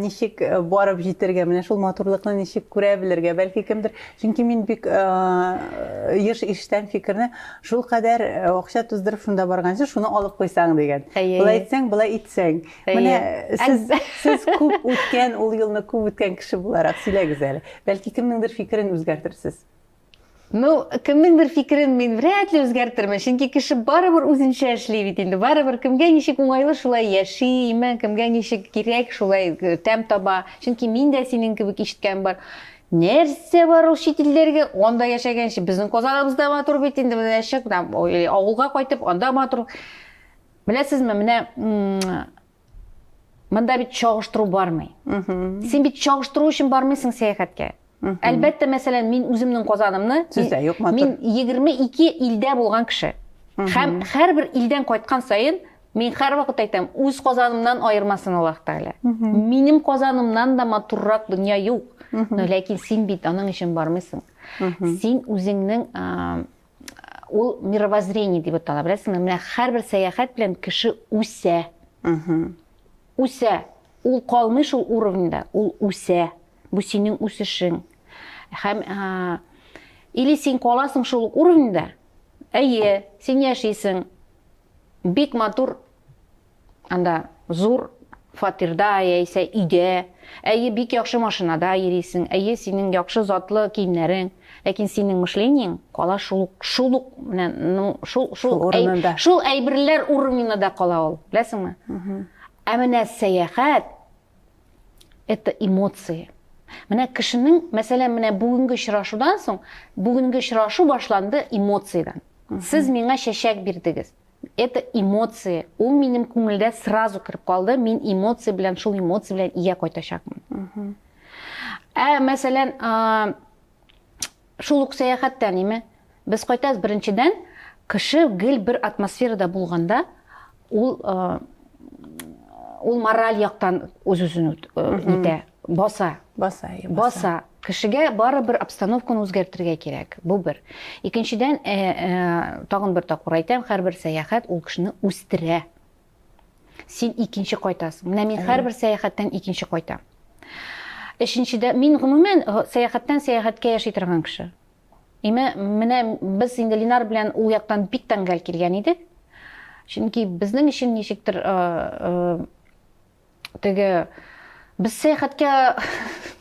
ничек барып җитәргә, менә шул матурлыкны ничек күрә белергә, бәлки кемдер Чөнки мин бик еш ишетәм фикерне, шул кадәр акча туздырып шунда барганчы, шуны алып куйсаң дигән. Болай итсәң, болай итсәң. Менә сез сез күп үткән, ул елны күп үткән кеше буларак сөйләгез әле. Бәлки кемнеңдер фикерен үзгәртерсез. Ну, кемнеңдер фикерен мин вряд ли үзгәртермен, чөнки кеше барыбер үзенчә эшли бит инде. Барыбер кемгә ничек уңайлы шулай яши, имән кемгә ничек кирәк шулай тәм таба. Чөнки мин дә синең кебек ишеткән бар. Нәрсә бар ул чит илләргә? Анда яшәгәнче безнең Казаныбыз да матур бит инде, менә чык да авылга кайтып, анда матур. Беләсезме, менә монда бит чагыштыру бармый. Син бит чагыштыру өчен бармыйсың сәяхәткә. Әлбәттә, мәсәлән, мин үземнең Казанымны, мин 22 илдә булган кеше. Һәм һәрбер илдән кайткан саен Мин һәрвакыт әйтәм, үз Казанымнан аермасын Аллаһ Тәгалә. Минем Казанымнан да матуррак дөнья юк. Но ләкин син бит аның өчен бармыйсың. Син үзеңнең ул мировоззрение дип атала, беләсеңме? Менә һәрбер сәяхәт белән кеше үсә. Үсә. Ул калмый шул уровеньда, ул үсә. Бу синең үсешең. Һәм или син каласың шул уровеньда, әйе, син яшисең, Бик матур анда зур фатирда яисә өйдә, әйе, бик яхшы машинада йөрисең, әйе, синең яхшы затлы киемнәрең, ләкин синең мышлениең кала шул шул ук менә шул шул урынында. Шул әйберләр уровненда да кала ул, беләсеңме? Ә менә сәяхәт Это эмоции. Менә кешенең, мәсәлән, менә бүгенге очрашудан соң, бүгенге очрашу башланды эмоциядан. Сез миңа чәчәк бирдегез. Это эмоции. Ул минем күңелдә сразу кереп калды. Мин эмоция белән, шул эмоция белән ия кайтачакмын. Ә мәсәлән, Шул ук сәяхәттә ниме? Без кайтабыз, беренчедән, кеше гел бер атмосферада булганда, ул ул мораль яктан үз-үзен итә, баса. Баса, баса. Баса. Кешегә бары бер обстановканы үзгәртергә кирәк. Бу бер. Икенчедән, тагын бер тапкыр әйтәм, һәрбер сәяхәт ул кешене үстерә. син икенче кайтасың менә мин һәрбер сәяхәттән икенче кайтам өченчедә мин гомумән э, сәяхәттән сәяхәткә яши торган кеше име менә без инде линар белән ул яктан бик тәңгәл килгән идек чөнки безнең өчен ничектер э, э, Теге без сәяхәткә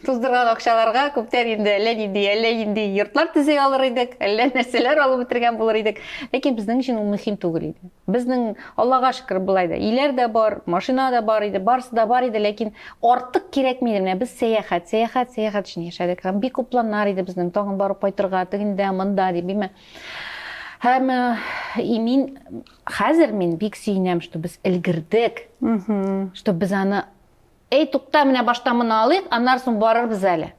туздырган акчаларга күптән инде әллә нинди әллә нинди йортлар төзи алыр идек, әллә нәрсәләр алып бетергән булыр идек. Ләкин безнең өчен ул мөһим түгел иде. Безнең, Аллага шөкер, болай да иләр дә бар, машина да бар иде, барысы да бар иде, ләкин артык кирәкми иде. Менә без сәяхәт, сәяхәт, сәяхәт өчен яшәдек. Һәм бик күп планнар иде безнең, тагын барып кайтырга, тегендә, монда дип, имә. Һәм э, и мин Хәзер мин бик сөенәм, что без элгердек, что без аны, эй, тукта, менә башта моны алыйк, аннары соң барырбыз әле.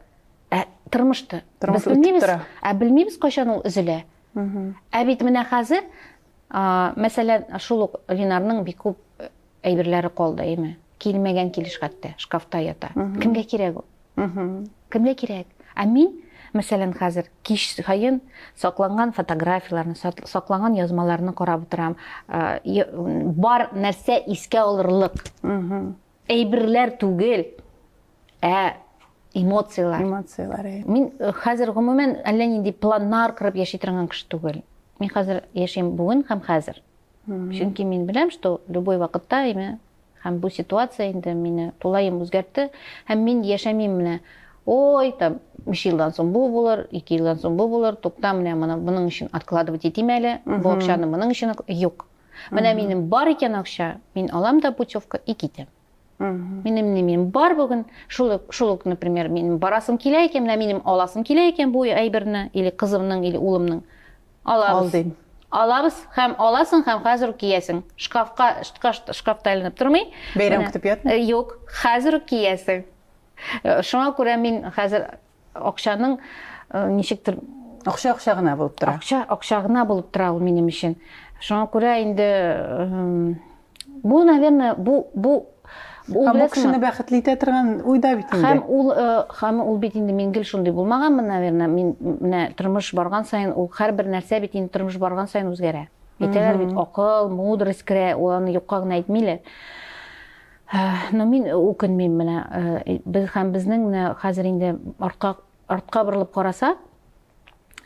Ә тормышты. Тормыш без белмибез, ә белмибез кайчан ул өзелә. Ә бит менә хәзер, мәсәлән, шул ук Ленарның бик күп Әйберләре калды, име? Килмәгән килеш хәтта, шкафта ята. Кемгә кирәк ул? Кемгә кирәк? Ә мин, мәсәлән, хәзер кич саен сакланган фотографияләрне, сакланган язмаларны карап утырам. Бар нәрсә искә алырлык. Әйберләр түгел, ә эмоцияләр. Эмоцияләр. Э. Мин э, хәзер гомумән әллә нинди планнар корып яши торган кеше түгел. Мин хәзер яшим бүген һәм хәзер. Чөнки мин беләм, что любой вакытта име һәм бу ситуация инде мине тулаем үзгәртте һәм мин яшәмим менә ой там үш елдан соң бу булыр ике елдан соң бу булыр тукта менә моны моның өчен откладывать итим әле бу акчаны моның өчен юк менә минем бар икән акча мин алам да путевка и китәм Минем не минем бар бүген, шул шул ук, например, минем барасым килә икән, менә минем аласым килә икән бу әйберне, или кызымның, или улымның. Алабыз. Алдым. Алабыз һәм аласың һәм хәзер үк киясең. Шкафка, шкафта айланып тормый. Бәйрәм көтеп ятмый. Э, юк, хәзер үк киясең. Э, шуңа күрә мин хәзер Акчаның ничектер акча акча гына булып тора. Акча акча гына булып тора ул минем өчен. Шуңа күрә инде бу, наверное, бу бу Ул һәм кешене бәхетле итә торган уйда бит инде. Һәм ул һәм ул бит инде мин гел шундый булмаганмын, наверное, мин менә тормыш барган саен ул һәрбер нәрсә бит инде тормыш барган саен үзгәрә. Әйтәләр бит, акыл, мудрость керә, ул аны юкка гына әйтмиләр. Но мин үкенмим менә без һәм безнең менә хәзер инде артка артка борылып карасак,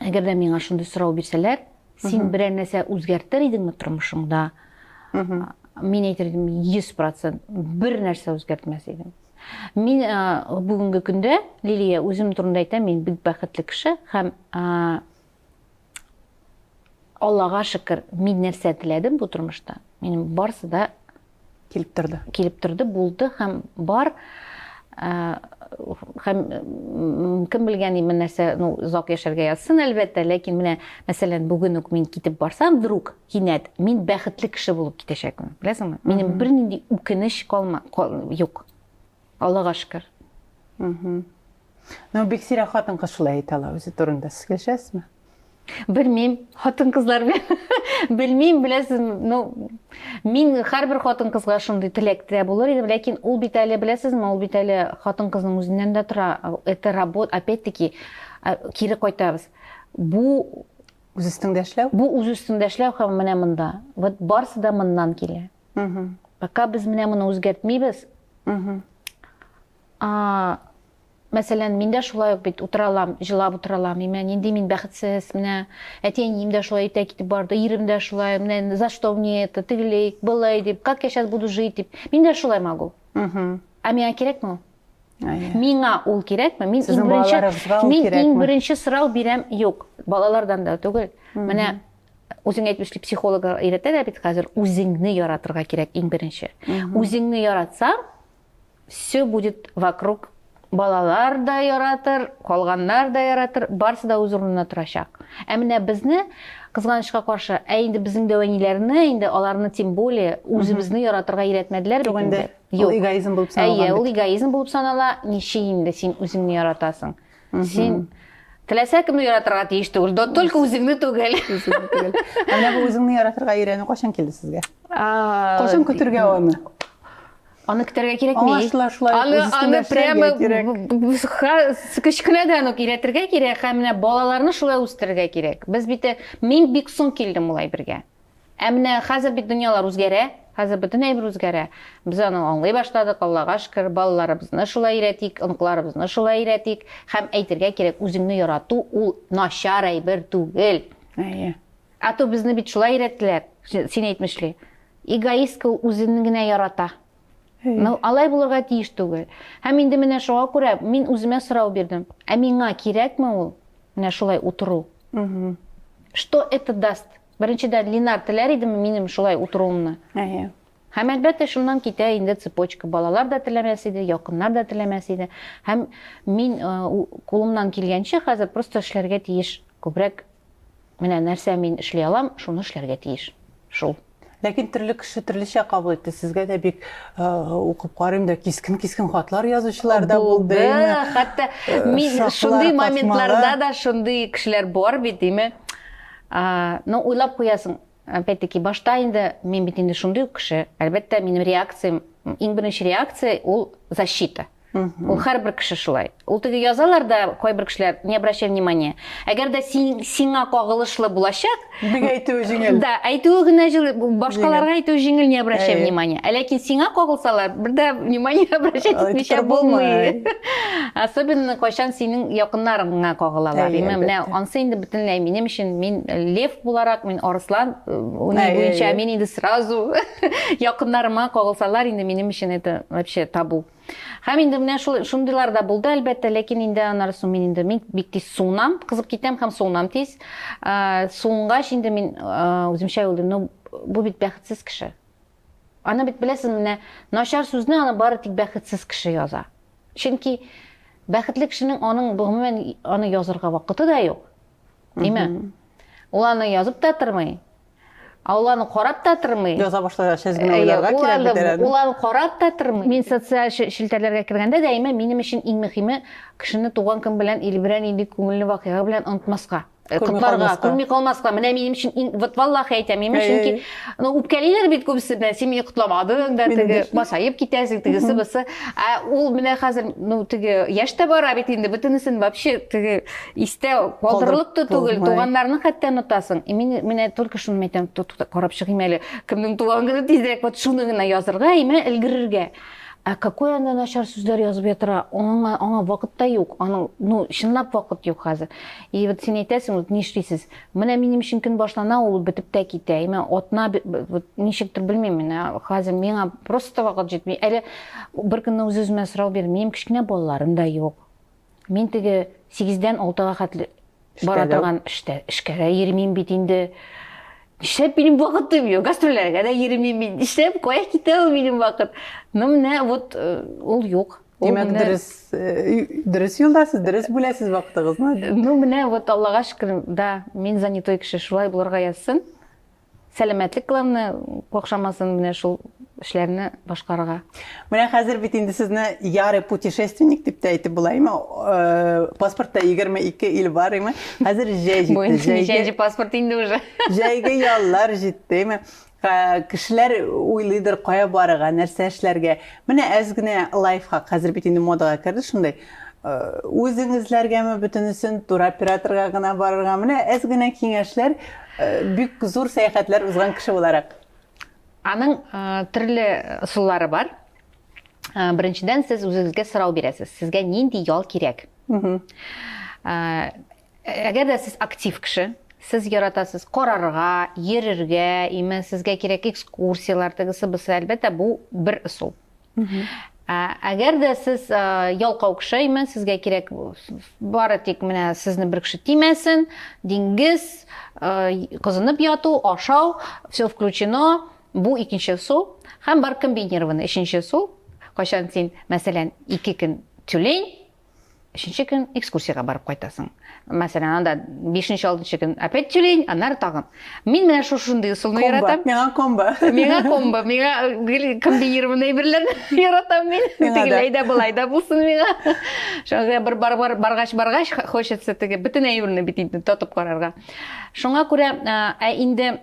әгәр дә миңа шундый сорау бирсәләр, син берәр нәрсә үзгәртер идеңме тормышыңда? Мин әйтер идем, 100% бер нәрсә үзгәртмәс идем. Мин бүгенге көндә, Лилия, үзем турында әйтәм, мин бик бәхетле кеше һәм Аллага шөкер, мин нәрсә теләдем бу тормышта, минем барысы да килеп торды. Килеп торды, булды һәм бар һәм кем белгән именно нәрсә ну озак яшәргә язсын әлбәттә ләкин менә мәсәлән бүген үк мин китеп барсам вдруг кинәт мин бәхетле кеше булып китәчәкмен беләсеңме минем бернинди үкенеч калма юк Аллага шөкер. Мхм. Ну, бик сирәк хатын-кыз шулай әйтә ала үзе турында. Сез килешәсезме? Белмим, хатын-кызлар белмим, беләсез, ну, мин һәрбер хатын-кызга шундый теләктә булыр идем, ләкин ул бит әле, беләсезме, ул бит әле хатын-кызның үзеннән дә тора. Это работа, опять-таки, кире кайтабыз. Бу үз өстеңдә эшләү? Бу үз өстеңдә эшләү һәм менә монда. Вот барсы да моннан килә. пока без менә моны үзгәртмибез мәсәлән мин дә шулай ук бит утыра алам җылап утыра алам менә нинди мин бәхетсез менә әти әнием дә шулай итә китеп барды ирем дә шулай менә за что мне это тегеләй былай дип как я сейчас буду жить дип мин дә шулай могу а миңа кирәкме ул миңа ул кирәкме мин иң беренче мин иң беренче сорау бирәм юк балалардан да түгел менә Үзең әйтмешли, психологлар өйрәтәләр бит хәзер, үзеңне яратырга кирәк иң беренче. Үзеңне яратсаң, все будет вокруг балалар да яратыр, калганнар да яратыр, барысы да үз урынына торачак. Ә менә безне кызганычка каршы, ә инде безнең дәвәниләрне, инде аларны тем более үзебезне яратырга өйрәтмәделәр бит инде. Юк, эгоизм булып санала. Әйе, ул эгоизм булып санала. Ничек инде син үзеңне яратасың? Син Теләсә кемне яратырга тиеш түгел, да только үзеңне түгел. Менә бу үзеңне яратырга өйрәнү кайчан килде сезгә? Кайчан көтергә аны? Аны көтәргә кирәкми. Аны аны прямо кечкенәдән үк өйрәтергә кирәк һәм менә балаларны шулай үстерергә кирәк. Без бит мин бик соң килдем улай бергә. Ә менә хәзер бит дөньялар үзгәрә, хәзер бөтен әйбер үзгәрә. Без аны аңлый башладык, Аллага шөкер, балаларыбызны шулай өйрәтик, оныкларыбызны шулай өйрәтик. Һәм әйтергә кирәк, үзеңне ярату ул начар әйбер түгел. Әйе. Ә то безне бит шулай өйрәттеләр, син әйтмешли. Эгоистка ул үзен генә ярата. Но алай булырга тиеш түгел. Һәм инде менә шуңа күрә мин үземә сорау бирдем. Ә миңа кирәкме ул? Менә шулай утыру. Что это даст? Беренчедән, Линар теләр идеме минем шулай утыруымны? Әйе. Һәм, әлбәттә, шуннан китә инде цепочка. Балалар да теләмәс иде, якыннар да теләмәс иде. Һәм мин кулымнан килгәнчә хәзер просто эшләргә тиеш. Күбрәк менә нәрсә мин эшли алам, шуны эшләргә тиеш. Шул. Ләкин төрле кеше төрлечә кабул итте. Сезгә дә бик укып карыйм да кискен-кискен хатлар язучылар да булды. Хәтта мин шундый моментларда да шундый кешеләр бар бит, диме? Но уйлап куясың, опять-таки, башта инде, мин бит инде шундый ук кеше, әлбәттә, минем реакциям, иң беренче реакция ул защита. Ул һәрбер кеше шулай. Ул теге язалар да, кайбер кешеләр, не обращай внимания. Әгәр дә син, сиңа кагылышлы булачак, бик әйтүе җиңел. Да, әйтүе генә җиңел, башкаларга әйтүе җиңел, не обращай внимания. Ә ләкин сиңа кагылсалар, бер дә внимание обращать итмичә булмый. Особенно кайчан синең якыннарыңа кагылалар. Менә ансы инде бөтенләй минем өчен мин э, лев буларак мин арыслан э, уйный буенча мин инде сразу якыннарыма кагылсалар инде минем өчен это вообще табу һәм инде менә шул шундыйлар да булды әлбәттә ләкин инде аннары соң мин инде мин бик тиз суынам кызып китәм һәм суынам тиз суынгач инде мин үземчә уйлыйм ну бу бит бәхетсез кеше Аны бит беләсез, менә начар сүзне аны бары тик бәхетсез кеше яза. Чөнки бәхетле кешенең аның гомумән аны язырга вакыты да юк. Димә. Ул аны язып та тормый. Ә ул аны карап та тормый. Яза башласа, сез генә уйларга кирәк бит әле. Ул аны карап та тормый. Мин социаль челтәрләргә кергәндә дә әйме, минем өчен иң мөхиме кешене туган көн белән или берәр нинди күңелле вакыйга белән онытмаска. Ә котларга, күрми калмаска. Менә минем өчен иң, вот валлахи әйтәм, минем өчен ки, ну, үпкәлиләр бит күбесе белән, син мине котламадың да, теге, масаеп китәсең, тегесе, бысы. Ә ул менә хәзер, ну, теге, яшь тә бара бит инде, бөтенесен вообще, теге, истә калдырылып та түгел, туганнарны хәтта онытасың. И мин, менә только шуны әйтәм, карап чыгыйм әле, кемнең туган көне тизрәк, вот шуны гына язырга, имә өлгерергә. Ә какой анда начар сүзләр язып ятыра? Аңа, аңа вакыт та юк. Аның, ну, чынлап вакыт юк хәзер. И вот син әйтәсең, вот нишлисез? Менә минем өчен көн башлана, ул бетеп тә китә. И мен атна вот ничектер белмим, менә хәзер миңа просто вакыт җитми. Әле бер көнне үз-үземә сорау бирдем, минем кечкенә балаларым да юк. Мин теге 8-дән 6-га хәтле бара торган эштә, эшкә дә йөрмим бит инде. Нишләп минем вакытым юк? Гастрольләргә дә йөрмим мин. Нишләп кая китә ул минем вакыт? Ну менә вот э, ул юк. Димәк, дөрес э, дөрес юлдасыз, дөрес бүләсез вакытыгызны. Ну, менә вот Аллага шөкер, да, мин занятой кеше, шулай булырга язсын. Сәламәтлек главное, кохшамасын менә шул эшләрне башкарырга. Менә хәзер бит инде сезне яры путешественник дип тә әйтеп була, име? Э, паспортта 22 ил бар, име? Хәзер җәй җитте. Бу инде паспорт инде уже. Җәйге яллар җитте, име? Ә, кешеләр уйлыйдыр, кая барырга, нәрсә эшләргә. Менә әз генә лайфхак, хәзер бит инде модага керде шундый. Э, үзең эзләргәме бөтенесен, туроператорга гына барырга. Менә әз генә киңәшләр, э, бик зур сәяхәтләр узган кеше буларак. Аның э, төрле ысуллары бар. Э, беренчедән, сез үзегезгә сорау бирәсез. Сезгә нинди ял кирәк? Э, Әгәр дә сез актив кеше, сез яратасыз карарга, йөрергә, имән сезгә кирәк экскурсияләр, тегесе бусы, әлбәттә, бу бер ысул. Ә, әгәр дә сез ә, ялкау кеше, имән сезгә кирәк бары тик менә сезне бер кеше тимәсен, диңгез, ә, кызынып яту, ашау, все включено, бу икенче ысул. Һәм бар комбинированный, өченче ысул, кайчан син, мәсәлән, ике көн тюлень, Өченче көн экскурсиягә барып кайтасың. Мәсәлән, анда бишенче, алтынчы көн опять тюлень, аннары тагын. Мин менә шушындый ысулны яратам. Миңа комбо. Миңа комбо. Миңа э, комбинированный әйберләрне яратам мин. Тегеләй дә, былай да булсын миңа. Шуңа бер бар бар баргач баргач хочется теге бөтен әйберне бит инде тотып карарга. Шуңа күрә э, ә инде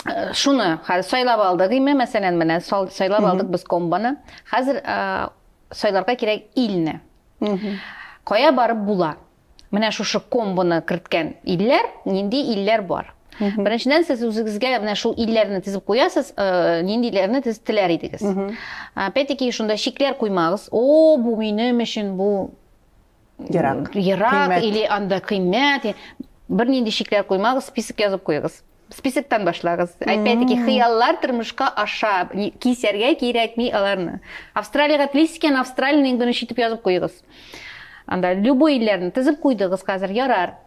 э, шуны хәзер сайлап алдык име, мәсәлән, менә сайлап алдык без комбоны. Хәзер Сайларга кирәк илне. Кая барып була? Менә шушы комбоны керткән илләр, нинди илләр бар? Беренчедән сез үзегезгә менә шул илләрне тезеп куясыз, э, нинди илләрне тезеп теләр идегез. Опять-таки шунда чикләр куймагыз. О, бу минем өчен, бу ерак ерак или анда кыйммәт бернинди чикләр куймагыз список язып куегыз списоктан башлагыз опять таки хыяллар тормышка аша кисәргә кирәкми аларны австралияга телисез икән австралияны иң беренче итеп язып куегыз анда любой илләрне тезеп куйдыгыз хәзер ярар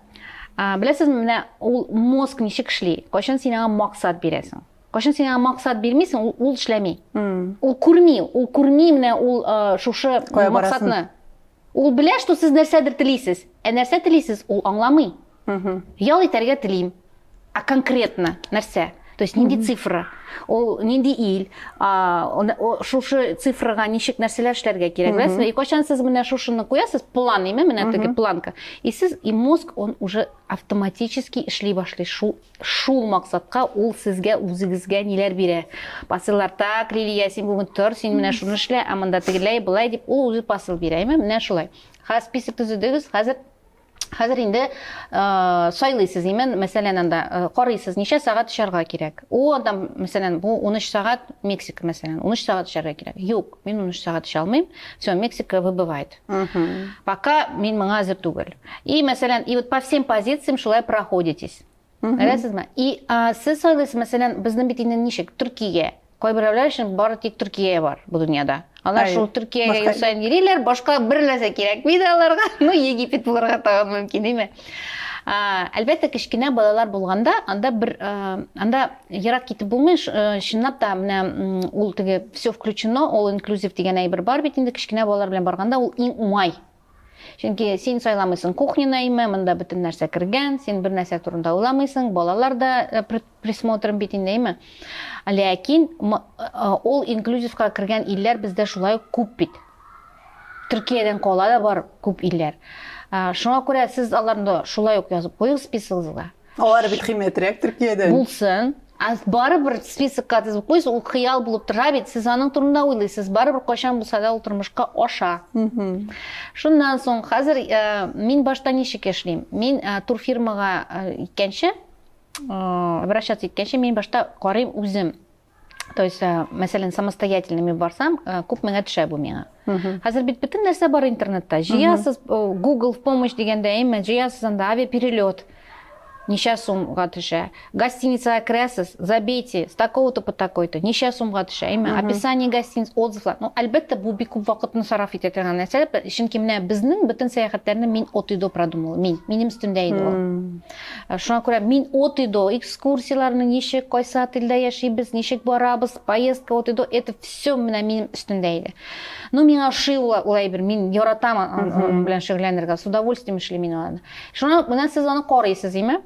беләсезме менә ул мозг ничек эшли кайчан син аңа максат бирәсең Кайчан син аңа максат бирмисең, ул, ул эшләми. Ул күрми, ул күрми менә ул э, шушы Кая максатны. Ул белә, что сез нәрсәдер телисез. Ә нәрсә телисез, ул аңламый. Ял итәргә телим. А конкретно нәрсә? То есть нинди цифра? Ул нинди ил? А, шушы цифрага ничек нәрсәләр эшләргә кирәк, беләсезме? И кайчан сез менә шушыны куясыз, план име, менә теге планка. И сез и мозг он уже автоматически эшли башлый шул Шул максатка ул сезгә үзегезгә ниләр бирә. Посыллар, так, Лилия, син бүген тор, син менә шуны эшлә, ә монда тегеләй, былай дип, ул үзе посыл бирә, әйме? Менә шулай. Ха, список төзедегез, хәзер Хәзер инде э, сайлыйсыз, имен, мәсәлән, анда э, карыйсыз, ничә сәгать эшләргә кирәк. О, анда, мәсәлән, бу 13 сәгать Мексика, мәсәлән, 13 сәгать эшләргә кирәк. Юк, мин 13 сәгать эшли алмыйм. Все, Мексика выбывает. Пока мин моңа әзер түгел. И, мәсәлән, и вот по всем позициям шулай проходитесь. Беләсезме? И сез сойлыйсыз, мәсәлән, безнең бит инде ничек, Төркиягә. Кайберәүләр өчен бары тик Төркия бар бу дөньяда. Алар шул Төркиягә ел саен йөриләр, башка бер нәрсә кирәкми дә аларга. Ну, Египет булырга тагын мөмкин, димме? Әлбәттә, кечкенә балалар булганда, анда бер анда ерак китеп булмый, чынлап та менә ул теге все включено, all inclusive дигән әйбер бар бит инде, кечкенә балалар белән барганда ул иң уңай. Чөнки син сайламыйсың кухняны әйме, монда бөтен нәрсә кергән, син бер нәрсә турында уйламыйсың, балалар да присмотрын бит инде, әйме? Ләкин ул инклюзивка кергән илләр бездә шулай ук күп бит. Төркиядән кала да бар күп илләр. Шуңа күрә сез аларны шулай ук язып куйыгыз списыгызга. Алар бит кыйммәтрәк Төркиядән. Булсын. Ә барыбер списокка тезеп куйсыз, ул хыял булып тора бит, сез аның турында уйлыйсыз, барыбер кайчан булса да ул тормышка аша. Шуннан соң хәзер мин башта ничек эшлим? Мин турфирмага икәнче врач әйткәнчә мин башта карыйм үзем то есть мәсәлән самостоятельно мин барсам күп меңә төшә бу миңа хәзер бит бөтен нәрсә бар интернетта җыясыз google в помощь дигәндә әйме җыясыз анда авиаперелет ничә сумга төшә гостиницага керәсез забейте с такого то по такой то ничә сумга төшә әйме описание гостиниц отзывлар ну әлбәттә бу бик күп вакытны сараф итә торган нәрсә чөнки менә безнең бөтен сәяхәтләрне мин от и до продумала мин минем өстемдә иде ул Шуңа күрә мин от и до экскурсияләрне ничек, кайсы отельдә яшибез, ничек барабыз, поездка от и до, это все менә минем өстемдә иде. Ну, миңа ошый ул, ул әйбер, мин яратам аның белән шөгыльләнергә, с удовольствием эшлим мин аларны. Шуңа менә сез аны карыйсыз, име?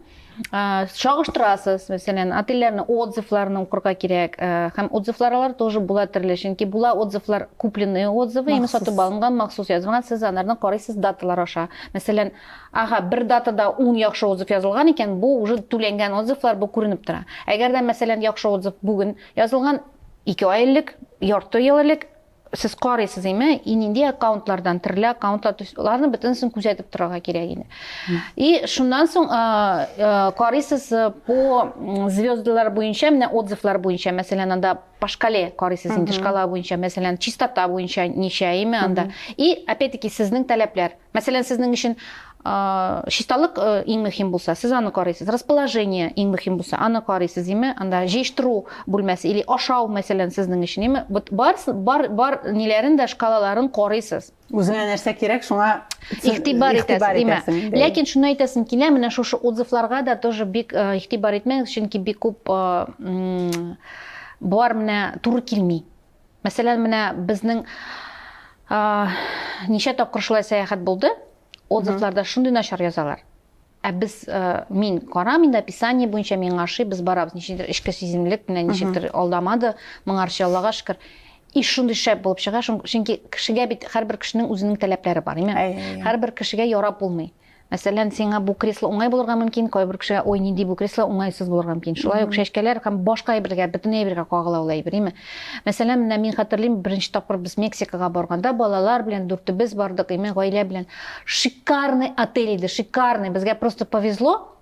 чагыштырасыз мәсәлән отельләрне отзывларны укырга кирәк һәм отзывларлар тоже була төрле чөнки була отзывлар купленные отзывы именно сатып алынган махсус язылган сез аларны карыйсыз даталар аша мәсәлән Ага, бер датада ун яхшы отзыв язылган икән, бу уже түләнгән отзывлар, бу күренеп тора. Әгәр дә, мәсәлән, яхшы отзыв бүген язылган, ике ай элек, ярты ел элек, сез карыйсыз име, и нинди аккаунтлардан, төрле аккаунтлар, то есть аларны бөтенесен күзәтеп торырга кирәк инде. И шуннан соң карыйсыз по звездалар буенча, менә отзывлар буенча, мәсәлән, анда по шкале карыйсыз инде, шкала буенча, мәсәлән, чистота буенча ничә име анда. И опять-таки сезнең таләпләр. Мәсәлән, сезнең өчен чисталык иң мөһим булса, сез аны карыйсыз. Расположение иң мөһим булса, аны карыйсыз, име? Анда җыештыру бүлмәсе или ашау, мәсәлән, сезнең өчен, име? Вот бар бар бар ниләрен дә шкалаларын карыйсыз. Үзеңә нәрсә кирәк, шуңа игътибар итәсез, име? Ләкин шуны әйтәсем килә, менә шушы отзывларга да тоже бик игътибар итмәгез, чөнки бик күп бар менә туры килми. Мәсәлән, менә безнең ничә тапкыр шулай сәяхәт булды, отзывларда шундый начар язалар. Ә без мин карам инде описание буенча миңа ошый, без барабыз. Ничектер эчке сиземлек менә ничектер алдамады, моңарчы Аллага шөкер. И шундый шәп булып чыга, чөнки кешегә бит һәрбер кешенең үзенең таләпләре бар. Именно һәрбер кешегә ярап булмый. Мәсәлән, сиңа бу кресло уңай булырга мөмкин, кайбер кешегә, ой, нинди бу кресло уңайсыз булырга мөмкин. Шулай ук чәчкәләр һәм башка әйбергә, бөтен әйбергә кагыла ул әйбер, име? Мәсәлән, менә мин хәтерлим, беренче тапкыр без Мексикага барганда, балалар белән дүртебез бардык, име, гаилә белән. Шикарный отель иде, шикарный. Безгә просто повезло,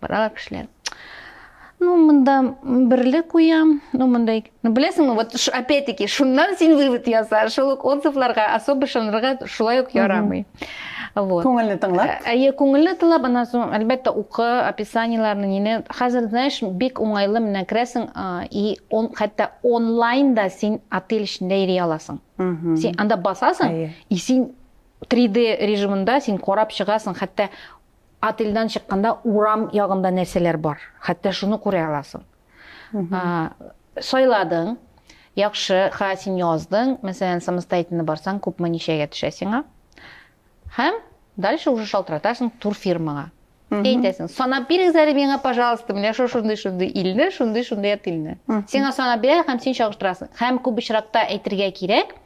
Баралар кешеләр. Ну, монда берле куям, ну, монда ике. Ну, беләсеңме, вот опять-таки, шуннан син вывод яса, шул ук отзывларга особо шанырга шулай ук ярамый. Вот. Күңелне тыңлап. Ә, әйе, күңелне тыңлап, аннан соң, әлбәттә, укы, описаниеләрне, нине. Хәзер, знаешь, бик уңайлы менә керәсең, и он, хәтта онлайн да син отель эчендә йөри аласың. Син анда басасың, и син 3D режимында син карап чыгасың, хәтта Отельдән чыкканда урам ягында нәрсәләр бар, хәтта шуны күрә аласың. Сайладың, яхшы, ха, син яздың, мәсәлән, самостоятельно барсаң, күпме ничәгә төшә сиңа. Һәм дальше уже шалтыратасың турфирмага. Әйтәсең, санап бирегез әле миңа, пожалуйста, менә шул шундый шундый илне, шундый шундый отельне. Сиңа санап бирә һәм син чагыштырасың. Һәм күп очракта әйтергә кирәк,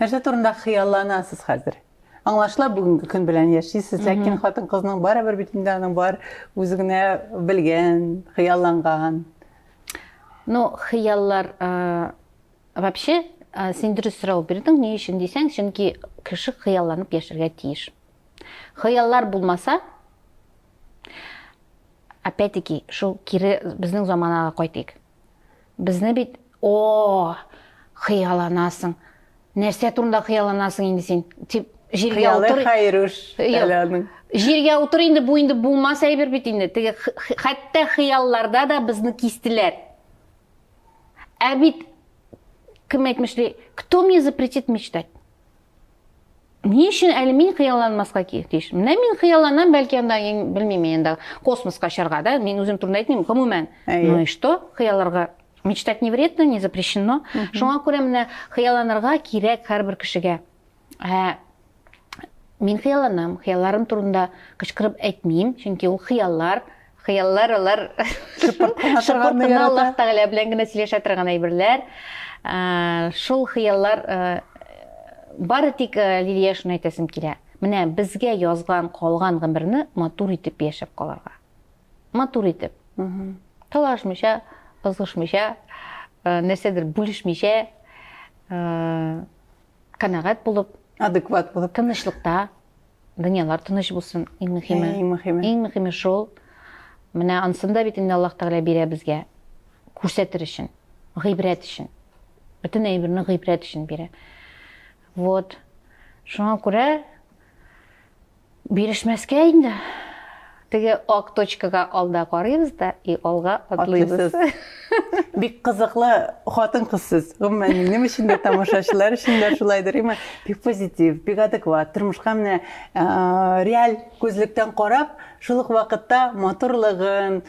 Нәрсә турында хыялланасыз хәзер? Аңлашыла бүгенге көн белән яшисез, ләкин хатын-кызның барыбер бит инде аның бар үзе генә белгән, хыялланган. Ну, хыяллар вообще син дөрес сорау бирдең, ни өчен дисәң, чөнки кеше хыялланып яшәргә тиеш. Хыяллар булмаса, опять-таки, шул кире безнең заманага кайтыйк. Безне бит, о, хыяланасың. Нәрсә турында хыяланасың инде син? Тип җиргә утыр. Хайруш. Җиргә утыр инде бу инде булмас әйбер бит инде. Теге хәтта хыялларда да безне кистеләр. Ә бит кем әйтмешли, кто мне запретит мечтать? Ни өчен әле мин хыялланмаска тиеш? Менә мин хыялланам, бәлки анда, белмим, енді космоска чарга, да? Мин үзем турында әйтмим, гомумән. Ну и что? Хыялларга мечтать не вредно, не запрещено. Шуңа күрә менә хыялланырга кирәк һәрбер кешегә. Ә мин хыялланам, хыялларым турында кычкырып әйтмим, чөнки ул хыяллар. хыяллар алар шыпыртына аллаһ тәгалә белән генә сөйләшә торган әйберләр ә, шул хыяллар ә, бары тик ә, лилия шуны әйтәсем килә менә безгә язган калган гомерне матур итеп яшәп калырга матур итеп талашмыйча ызгышмыйча ә, нәрсәдер бүлешмичә ә, канәгать булып, адекват булып, тынычлыкта, дөньялар тыныч булсын, иң мөһиме. Иң мөһиме. Иң мөһиме шул. Менә ансын да бит инде Аллаһ Тәгалә бирә безгә. Күрсәтер өчен, гыйбрәт өчен. Бөтен әйберне гыйбрәт өчен бирә. Вот. Шуңа күрә Бирешмәскә инде. Теге ак точкага алда карыйбыз да и алга атлыйбыз. Бик кызыклы хатын-кыз сез. Гомумән, минем өчен дә, тамашачылар өчен дә шулайдыр. Имма бик позитив, бик адекват, тормышка менә реаль күзлектән карап, шул ук вакытта матурлыгын,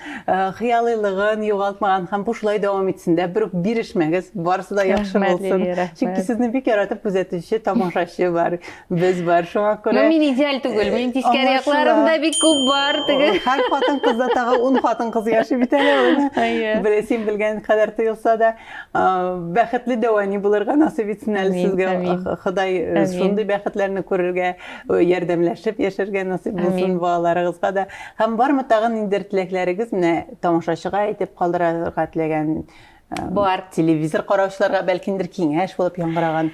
хыялыйлыгын югалтмаган һәм бу шулай дәвам итсен дә, бер үк бирешмәгез, барысы да яхшы булсын. Чөнки сезне бик яратып күзәтүче тамашачы бар. Без бар шуңа күрә. Ну, мин идеаль түгел, э, мин тискәре якларым да бик күп бар. Теге. Һәр хатын кызда тагы ун хатын кыз яши бит әле ул. Бер син белгән кадәр тоелса да, бәхетле дәвани булырга насыйп итсен әле сезгә. Ходай э, шундый бәхетләрне күрергә, э, ярдәмләшеп яшәргә насыйп булсын балаларыгызга да. Һәм бармы тагын инде теләкләрегез менә тамашачыга әйтеп калдырырга теләгән бар телевизор караучыларга бәлкиндер киңәш булып яңгыраган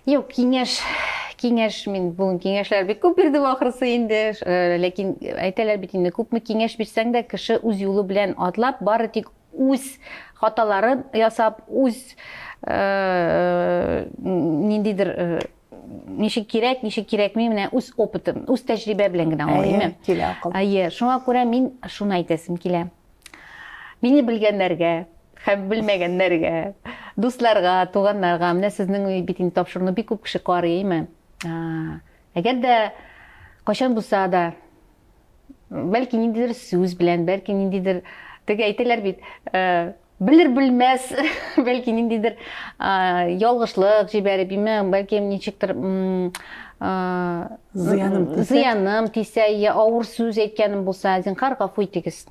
Юк, киңәш, киңәш мин бүген киңәшләр бик күп бирдем ахрысы инде, э, ләкин әйтәләр бит инде күпме киңәш бирсәң дә кеше үз юлы белән атлап, бары тик үз хаталарын ясап, үз э, ниндидер э, ничек кирәк, ничек кирәкми, менә үз опытым, үз тәҗрибә белән генә аңлыйм. Әйе, килә акыл. Әйе, шуңа күрә мин шуны әйтәсем килә. Мине белгәннәргә һәм белмәгәннәргә, дусларга, туганнарга, менә сезнең бит инде тапшыруны бик күп кеше карый, әйме? Әгәр дә кайчан булса да, бәлки ниндидер сүз белән, бәлки ниндидер, теге әйтәләр бит, э, белер белмәс, бәлки ниндидер ялгышлык җибәреп, әйме, бәлки ничектер зыяным тисә, зыяным тисә, я авыр сүз әйткәнем булса, зинхар гафу итегез.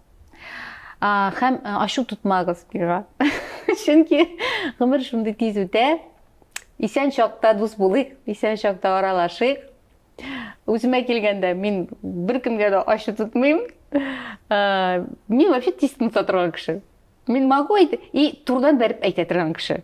Хәм ашу тотмагыз бирга. Чөнки гомер шундый тиз үтә. Исән чакта дус булыйк, исән чакта аралашыйк. Үземә килгәндә мин беркемгә дә ачы тотмыйм. Мин вообще тиз тынса торган кеше. Мин могу әйтә и турыдан бәреп әйтә торган кеше.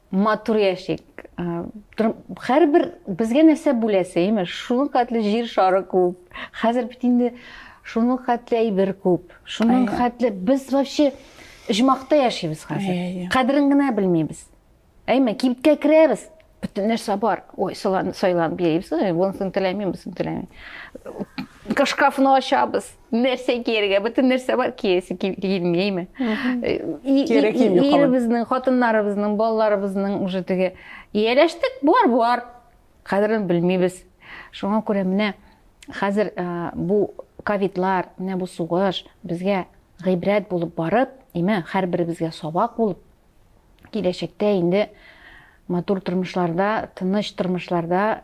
Матур яшик. Хәрбер безгә нәрсә бүләсе, имеш, шуның хәтле җир шары күп. Хәзер бит инде шуның хәтле әйбер күп. Шуның хәтле без вообще җмакта яшибез хәзер. Кадерен генә белмибез. Әйме, кибеткә керәбез, бөтен нәрсә бар. Ой, сайланып йөрибез, ой, монысын теләмим, монысын теләмим. Шкафны ачабыз. нәрсә кияргә бөтен нәрсә бар киясе килмейме иребезнең хатыннарыбызның балаларыбызның уже теге ияләштек бар бар кадерен белмибез шуңа күрә менә хәзер бу ковидлар менә бу сугыш безгә гыйбрәт булып барып имә һәрберебезгә сабак булып киләчәктә инде матур тормышларда тыныч тормышларда